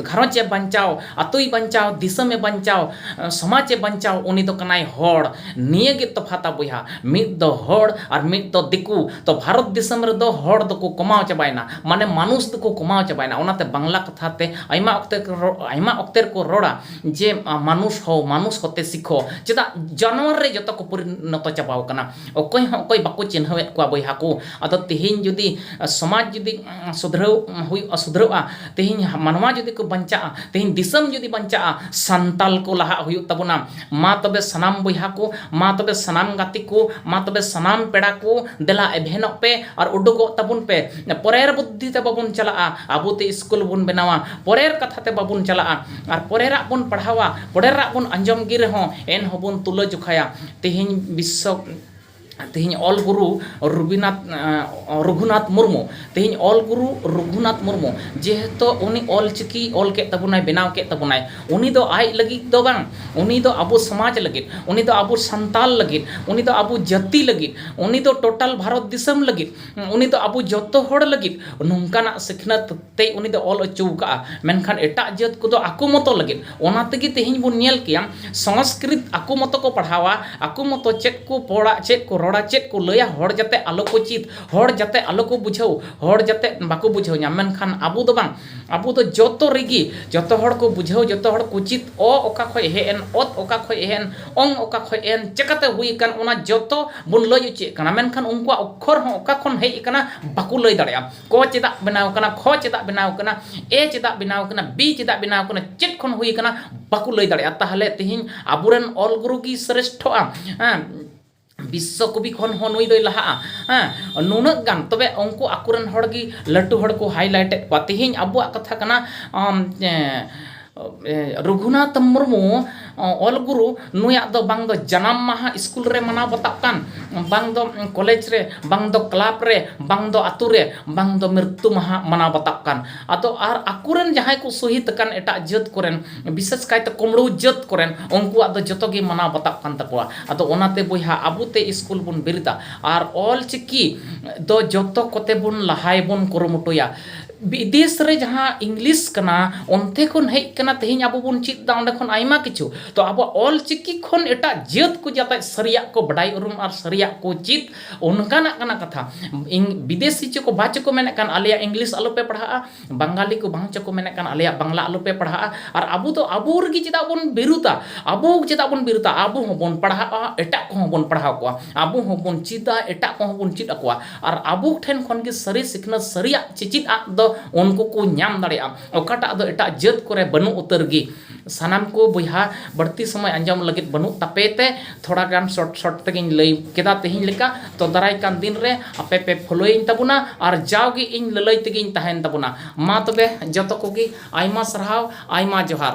ᱜᱷᱟᱨᱚᱸᱡᱽ ᱮ ᱵᱟᱧᱪᱟᱣ ᱟᱛᱳᱭ ᱵᱟᱧᱪᱟᱣ ᱫᱤᱥᱚᱢ ᱮ ᱵᱟᱧᱪᱟᱣ ᱥᱚᱢᱟᱡᱽ ᱮ ᱵᱟᱧᱪᱟᱣ ᱩᱱᱤ ᱫᱚ ᱠᱟᱱᱟᱭ ᱦᱚᱲ ᱱᱤᱭᱟᱹ ᱜᱮ ᱛᱚᱯᱷᱟᱛᱟ ᱵᱚᱭᱦᱟ ᱢᱤᱫ ᱫᱚ ᱦᱚᱲ ᱟᱨ ᱢᱤᱫ ᱫᱚ ᱫᱤᱠᱩ ᱛᱚ ᱵᱷᱟᱨᱚᱛ ᱫᱤᱥᱚᱢ ᱨᱮᱫᱚ ᱦᱚᱲ ᱫᱚᱠᱚ ᱠᱚᱢᱟᱣ ᱪᱟᱵᱟᱭᱮᱱᱟ ᱢᱟᱱᱮ ᱢᱟᱱᱩᱥ ᱫᱚᱠᱚ ᱠᱚᱢᱟᱣ ᱪᱟᱵᱟᱭᱮᱱᱟ ᱚᱱᱟᱛᱮ ᱵᱟᱝᱞᱟ ᱠᱟᱛᱷᱟ ᱛᱮ ᱟᱭᱢᱟ ᱚᱠᱛᱮ ᱟᱭᱢᱟ ᱚᱠᱛᱮ ᱨᱮᱠᱚ ᱨᱚᱲᱟ ᱡᱮ ᱢᱟᱱᱩᱥ ᱦᱳ ᱢᱟᱱᱩᱥ ᱦᱳᱛᱮ ᱥᱤᱠᱷᱳ ᱪᱮᱫᱟᱜ ᱡᱟᱱᱣᱟᱨ ᱨᱮ ᱡᱚᱛᱚ ᱠᱚ ᱯᱚᱨᱤᱱᱚᱛᱚ ᱪᱟᱵᱟᱣ ᱠᱟᱱᱟ ᱚᱠᱚᱭ ᱦᱚᱸ ᱚᱠᱚᱭ ᱵᱟᱠᱚ ᱪᱤᱱᱦᱟᱹᱣᱮᱫ ᱠᱚᱣᱟ ᱵᱚᱭᱦᱟ ᱠᱚ ᱟᱫᱚ ᱛᱮᱦᱮᱧ ᱡᱩᱫᱤ ᱥᱚᱢᱟᱡᱽ ᱡᱩᱫᱤ ᱥᱩᱫᱷᱨᱟᱹᱣ ᱦᱩᱭᱩᱜᱼᱟ ᱥᱩᱫᱷᱨᱟᱹᱜᱼᱟ ᱛᱮᱦᱮᱧ ᱢᱟᱱᱣᱟ ᱡᱩᱫᱤ ᱠᱚ ᱵᱟᱧᱪᱟᱜᱼᱟ ᱛᱮᱦᱮᱧ ᱫᱤᱥᱚᱢ ᱡᱩᱫᱤ ᱵᱟᱧᱪᱟᱜᱼᱟ ᱥᱟᱱᱛᱟᱲ ᱠᱚ ᱞᱟᱦᱟᱜ ᱦᱩᱭᱩᱜ ᱛᱟᱵᱚᱱᱟ ᱢᱟ ᱛᱚᱵᱮ ᱥᱟᱱᱟᱢ ᱵᱚᱭᱦᱟ ᱠᱚ ᱢᱟ ᱛᱚᱵᱮ ᱥᱟᱱᱟᱢ ᱜᱟᱛᱮ ᱠᱚ ᱢᱟ ᱛᱚᱵᱮ ᱥᱟᱱᱟᱢ ᱯᱮᱲᱟ ᱠᱚ ᱫᱮᱞᱟ ᱮᱵᱷᱮᱱᱚᱜ ᱯᱮ ᱟᱨ ᱩᱰᱩᱠᱚᱜ ᱛᱟᱵᱚᱱ ᱯᱮ ᱯᱚᱨᱮᱨ ᱵᱩᱫᱽᱫᱷᱤ ᱛᱮ ᱵᱟᱵᱚᱱ ᱪᱟᱞᱟᱜᱼᱟ ᱟᱵᱚ ᱛᱮ ᱥᱠᱩᱞ ᱵᱚᱱ ᱵᱮᱱᱟᱣᱟ ᱯᱚᱨᱮᱨ ᱠᱟᱛᱷᱟ ᱛᱮ ᱵᱟᱵᱚᱱ ᱪᱟᱞᱟᱜᱼᱟ ᱟᱨ ᱯᱚᱨᱮᱨᱟᱜ ᱵᱚᱱ ᱯᱟᱲᱦᱟᱣᱟ ᱯᱚᱨᱮᱨᱟᱜ ᱵᱚᱱ ᱟᱸᱡᱚᱢ ᱜᱮ ᱨᱮᱦᱚᱸ ᱮᱱᱦᱚᱸ ᱵᱚᱱ ᱛᱩᱞᱟᱹ ᱡᱚᱠᱷᱟᱭᱟ ᱛᱮᱦᱮᱧ ᱵᱤᱥᱥᱚ ᱛᱮᱦᱮᱧ ᱚᱞ ᱜᱩᱨᱩ ᱨᱚᱵᱤᱱᱟᱛᱷ ᱨᱚᱜᱷᱩᱱᱟᱛᱷ ᱢᱩᱨᱢᱩ ᱛᱮᱦᱮᱧ ᱚᱞ ᱜᱩᱨᱩ ᱨᱚᱜᱷᱩᱱᱟᱛᱷ ᱢᱩᱨᱢᱩ ᱡᱮᱦᱮᱛᱩ ᱩᱱᱤ ᱚᱞ ᱪᱤᱠᱤ ᱚᱞ ᱠᱮᱫ ᱛᱟᱵᱚᱱᱟᱭ ᱵᱮᱱᱟᱣ ᱠᱮᱫ ᱛᱟᱵᱚᱱᱟᱭ ᱩᱱᱤ ᱫᱚ ᱟᱡ ᱞᱟᱹᱜᱤᱫ ᱫᱚ ᱵᱟᱝ ᱩᱱᱤ ᱫᱚ ᱟᱵᱚ ᱥᱚᱢᱟᱡᱽ ᱞᱟᱹᱜᱤᱫ ᱩᱱᱤ ᱫᱚ ᱟᱵᱚ ᱥᱟᱱᱛᱟᱞ ᱞᱟᱹᱜᱤᱫ ᱩᱱᱤ ᱫᱚ ᱟᱵᱚ ᱡᱟᱹᱛᱤ ᱞᱟᱹᱜᱤᱫ ᱩᱱᱤ ᱫᱚ ᱴᱳᱴᱟᱞ ᱵᱷᱟᱨᱚᱛ ᱫᱤᱥᱚᱢ ᱞᱟᱹᱜᱤᱫ ᱩᱱᱤ ᱫᱚ ᱟᱵᱚ ᱡᱚᱛᱚ ᱦᱚᱲ ᱞᱟᱹᱜᱤᱫ ᱱᱚᱝᱠᱟᱱᱟᱜ ᱥᱤᱠᱷᱱᱟᱹᱛ ᱛᱮᱭ ᱩᱱᱤ ᱫᱚ ᱚᱞ ᱚᱪᱚ ᱟᱠᱟᱫᱼᱟ ᱢᱮᱱᱠᱷᱟᱱ ᱮᱴᱟᱜ ᱡᱟᱹᱛ ᱠᱚᱫᱚ ᱟᱠᱚ ᱢᱚᱛᱚ ᱞᱟᱹᱜᱤᱫ ᱚᱱᱟ ᱛᱮᱜᱮ ᱛᱮᱦᱮᱧ ᱵᱚᱱ ᱧᱮᱞ ᱠᱮᱭᱟ ᱥᱚᱝᱥᱠᱨᱤᱛ ᱟᱠᱚ ᱢᱚᱛᱚ ᱠᱚ ᱯᱟᱲᱦᱟᱣᱟ ᱟᱠᱚ ᱢᱚᱛᱚ ᱪᱮᱫ ᱠᱚ ᱯᱚᱲᱟ ᱪᱮᱫ ᱠᱚ ᱨᱚᱲᱟ ᱪᱮᱫ ᱠᱚ ᱞᱟᱹᱭᱟ ᱦᱚᱲ ᱡᱟᱛᱮ ᱟᱞᱚ ᱠᱚ ᱪᱮᱫ ᱦᱚᱲ ᱡᱟᱛᱮ ᱟᱞᱚ ᱠᱚ ᱵᱩᱡᱷᱟᱹᱣ ᱦᱚᱲ ᱡᱟᱛᱮ ᱵᱟᱠᱚ ᱵᱩᱡᱷᱟᱹᱣ ᱧᱟᱢ ᱢᱮᱱᱠᱷᱟᱱ ᱟᱵᱚ ᱫᱚ ᱵᱟᱝ ᱟᱵᱚ ᱫᱚ ᱡᱚᱛᱚ ᱨᱮᱜᱮ ᱡᱚᱛᱚ ᱦᱚᱲ ᱠᱚ ᱵᱩᱡᱷᱟᱹᱣ ᱡᱚᱛᱚ ᱦᱚᱲ ᱠᱚ ᱪᱮᱫ ᱚ ᱚᱠᱟ ᱠᱷᱚᱱ ᱦᱮᱡ ᱮᱱ ᱚᱛ ᱚᱠᱟ ᱠᱷᱚᱱ ᱦᱮᱡ ᱮᱱ ᱚᱝ ᱚᱠᱟ ᱠᱷᱚᱱ ᱦᱮᱡ ᱮᱱ ᱪᱤᱠᱟᱹᱛᱮ ᱦᱩᱭ ᱟᱠᱟᱱ ᱚᱱᱟ ᱡᱚᱛᱚ ᱵᱚᱱ ᱞᱟᱹᱭ ᱚᱪᱚᱭᱮᱫ ᱠᱟᱱᱟ ᱢᱮᱱᱠᱷᱟᱱ ᱩᱱᱠᱩᱣᱟᱜ ᱚᱠᱠᱷᱚᱨ ᱦᱚᱸ ᱚᱠᱟ ᱠᱷᱚᱱ ᱦᱮᱡ ᱟᱠᱟᱱᱟ ᱵᱟᱠᱚ ᱞᱟᱹᱭ ᱫᱟᱲᱮᱭᱟᱜᱼᱟ ᱠᱚ ᱪᱮᱫᱟᱜ ᱵᱮᱱᱟᱣ ᱟᱠᱟᱱᱟ ᱠᱷᱚ ᱪᱮᱫᱟᱜ ᱵᱮᱱᱟᱣ ᱟᱠᱟᱱᱟ ᱮ ᱪᱮᱫᱟᱜ ᱵᱮᱱᱟᱣ ᱟᱠᱟᱱᱟ ᱵᱤ ᱪᱮᱫᱟᱜ ᱵᱮᱱᱟᱣ ᱟᱠᱟᱱᱟ ᱪᱮᱫ ᱠᱷᱚᱱ ᱦᱩᱭ ᱟᱠᱟᱱᱟ ᱵᱟᱠᱚ ᱞᱟᱹᱭ ᱫᱟᱲᱮᱭᱟᱜᱼᱟ ᱛᱟᱦᱚᱞᱮ ᱛᱮᱦᱮᱧ ᱟᱵᱚ ᱨᱮᱱ ᱚᱞ ᱜᱩᱨᱩ ᱜᱮ ᱥᱨᱮᱥᱴᱷᱚᱜᱼᱟ ᱵᱤᱥᱥᱚ ᱠᱚᱵᱤ ᱠᱷᱚᱱ ᱦᱚᱸ ᱱᱩᱭ ᱫᱚᱭ ᱞᱟᱦᱟᱜᱼᱟ ᱦᱮᱸ ᱱᱩᱱᱟᱹᱜ ᱜᱟᱱ ᱛᱚᱵᱮ ᱩᱱᱠᱩ ᱟᱠᱚ ᱨᱮᱱ ᱦᱚᱲ ᱜᱮ ᱞᱟᱹᱴᱩ ᱦᱚᱲ ᱠᱚ ᱦᱟᱭᱞᱟᱭᱤᱴ ᱮᱫ ᱠᱚᱣᱟ ᱛᱮᱦᱮᱧ ᱟᱵᱚᱣᱟᱜ ᱠᱟᱛᱷᱟ ᱠᱟᱱᱟ ᱨᱚᱜᱷᱩᱱᱟᱛᱷ ᱢᱩᱨᱢᱩ ᱚᱞ ᱜᱩᱨᱩ ᱱᱩᱭᱟᱜ ᱫᱚ ᱵᱟᱝ ᱫᱚ ᱡᱟᱱᱟᱢ ᱢᱟᱦᱟ ᱥᱠᱩᱞ ᱨᱮ ᱢᱟᱱᱟᱣ ᱵᱟᱛᱟᱜ ᱠᱟᱱ ᱵᱟᱝ ᱫᱚ ᱠᱚᱞᱮᱡᱽ ᱨᱮ ᱵᱟᱝ ᱫᱚ ᱠᱞᱟᱵᱽ ᱨᱮ ᱵᱟᱝ ᱫᱚ ᱟᱹᱛᱩ ᱨᱮ ᱵᱟᱝ ᱫᱚ ᱢᱨᱤᱛᱛᱩ ᱢᱟᱦᱟ ᱢᱟᱱᱟᱣ ᱵᱟᱛᱟᱜ ᱠᱟᱱ ᱟᱫᱚ ᱟᱨ ᱟᱠᱚ ᱨᱮᱱ ᱡᱟᱦᱟᱸᱭ ᱠᱚ ᱥᱚᱦᱤᱫᱽ ᱟᱠᱟᱱ ᱮᱴᱟᱜ ᱡᱟᱹᱛ ᱠᱚᱨᱮᱱ ᱵᱤᱥᱮᱥ ᱠᱟᱭᱛᱮ ᱠᱩᱢᱲᱩ ᱡᱟᱹᱛ ᱠᱚᱨᱮᱱ ᱩᱱᱠᱩᱣᱟᱜ ᱫᱚ ᱡᱚᱛᱚ ᱜᱮ ᱢᱟᱱᱟᱣ ᱵᱟᱛᱟᱜ ᱠᱟᱱ ᱛᱟᱠᱚᱣᱟ ᱟᱫᱚ ᱚᱱᱟᱛᱮ ᱵᱚᱭᱦᱟ ᱟᱵᱚ ᱛᱮ ᱥᱠᱩᱞ ᱵᱚᱱ ᱵᱮᱨᱮᱫᱟ ᱟᱨ ᱚᱞ ᱪᱤᱠᱤ ᱫᱚ ᱡᱚᱛᱚ ᱠᱚᱛᱮ ᱵᱚᱱ ᱞᱟᱦᱟᱭ ᱵᱚᱱ ᱠᱩᱨᱩᱢᱩᱴᱩᱭᱟ ᱵᱤᱫᱮᱥ ᱨᱮ ᱡᱟᱦᱟᱸ ᱤᱝᱞᱤᱥ ᱠᱟᱱᱟ ᱚᱱᱛᱮ ᱠᱷᱚᱱ ᱦᱮᱡ ᱠᱟᱱᱟ ᱛᱮᱦᱮᱧ ᱟᱵᱚ ᱵᱚᱱ ᱪᱮᱫ ᱮᱫᱟ ᱚᱸᱰᱮ ᱠᱷᱚᱱ ᱟᱭᱢᱟ ᱠᱤᱪᱷᱩ ᱛᱚ ᱟᱵᱚᱣᱟᱜ ᱚᱞ ᱪᱤᱠᱤ ᱠᱷᱚᱱ ᱮᱴᱟᱜ ᱡᱟᱹᱛ ᱠᱚ ᱡᱟᱛᱮ ᱥᱟᱹᱨᱤᱭᱟᱜ ᱠᱚ ᱵᱟᱰᱟᱭ ᱩᱨᱩᱢ ᱟᱨ ᱥᱟᱹᱨᱤᱭᱟᱜ ᱠᱚ ᱪᱮᱫ ᱚᱱᱠᱟᱱᱟᱜ ᱠᱟᱱᱟ ᱠᱟᱛᱷᱟ ᱵᱤᱫᱮᱥᱤ ᱪᱚᱠᱚ ᱵᱟ ᱪᱚᱠᱚ ᱢᱮᱱᱮᱫ ᱠᱟᱱ ᱟᱞᱮᱭᱟᱜ ᱤᱝᱞᱤᱥ ᱟᱞᱚ ᱯᱮ ᱯᱟᱲᱦᱟᱜᱼᱟ ᱵᱟᱝᱜᱟᱞᱤ ᱠᱚ ᱵᱟᱝ ᱪᱚᱠᱚ ᱢᱮᱱᱮᱫ ᱠᱟᱱ ᱟᱞᱮᱭᱟᱜ ᱵᱟᱝᱞᱟ ᱟᱞᱚ ᱯᱮ ᱯᱟᱲᱦᱟᱜᱼᱟ ᱟᱨ ᱟᱵᱚ ᱫᱚ ᱟᱵᱚ ᱨᱮᱜᱮ ᱪᱮᱫᱟᱜ ᱵᱚᱱ ᱵᱤᱨᱩᱫᱟ ᱟᱵᱚ ᱪᱮᱫᱟᱜ ᱵᱚᱱ ᱵᱤᱨᱩᱫᱟ ᱟᱵᱚ ᱦᱚᱸᱵᱚᱱ ᱯᱟᱲᱦᱟᱜᱼᱟ ᱮᱴᱟᱜ ᱠᱚᱦᱚᱸ ᱵᱚᱱ ᱯᱟᱲᱦᱟᱣ ᱠᱚᱣᱟ ᱟᱵᱚ ᱦᱚᱸᱵᱚᱱ ᱪᱮᱫᱟ ᱮᱴᱟᱜ ᱠᱚᱦᱚᱸ ᱵᱚᱱ ᱪᱮᱫ ᱟᱠᱚᱣᱟ ᱟᱨ ᱟᱵᱚ ᱴᱷᱮᱱ ᱠᱷᱚᱱ ᱜᱮ ᱥᱟᱹᱨᱤ ᱥᱤᱠᱷᱱᱟᱹᱛ ᱥᱟᱹᱨᱤᱭᱟᱜ ᱪᱮᱪᱮᱫ ᱟᱜ ᱫᱚ ᱩᱱᱠᱩ ᱠᱚ ᱧᱟᱢ ᱫᱟᱲᱮᱭᱟᱜᱼᱟ ᱚᱠᱟᱴᱟᱜ ᱫᱚ ᱮᱴᱟᱜ ᱡᱟᱹᱛ ᱠᱚᱨᱮ ᱵᱟᱹᱱᱩᱜ ᱩᱛᱟᱹᱨ ᱜᱮ ᱥᱟᱱᱟᱢ ᱠᱚ ᱵᱚᱭᱦᱟ ᱵᱟᱹᱲᱛᱤ ᱥᱚᱢᱚᱭ ᱟᱸᱡᱚᱢ ᱞᱟᱹᱜᱤᱫ ᱵᱟᱹᱱᱩᱜ ᱛᱟᱯᱮ ᱛᱮ ᱛᱷᱚᱲᱟ ᱜᱟᱱ ᱥᱚᱨᱴ ᱥᱚᱨᱴ ᱛᱮᱜᱮᱧ ᱞᱟᱹᱭ ᱠᱮᱫᱟ ᱛᱮᱦᱮᱧ ᱞᱮᱠᱟ ᱛᱚ ᱫᱟᱨᱟᱭ ᱠᱟᱱ ᱫᱤᱱ ᱨᱮ ᱟᱯᱮ ᱯᱮ ᱯᱷᱳᱞᱳᱭᱤᱧ ᱛᱟᱵᱚᱱᱟ ᱟᱨ ᱡᱟᱣ ᱜᱮ ᱤᱧ ᱞᱟᱹᱞᱟᱹᱭ ᱛᱮᱜᱮᱧ ᱛᱟᱦᱮᱱ ᱛᱟᱵᱚᱱᱟ ᱢᱟ ᱛᱚᱵᱮ ᱡᱚᱛᱚ ᱠᱚᱜᱮ ᱟᱭᱢᱟ ᱥᱟᱨᱦᱟᱣ ᱟᱭᱢᱟ ᱡᱚᱦᱟᱨ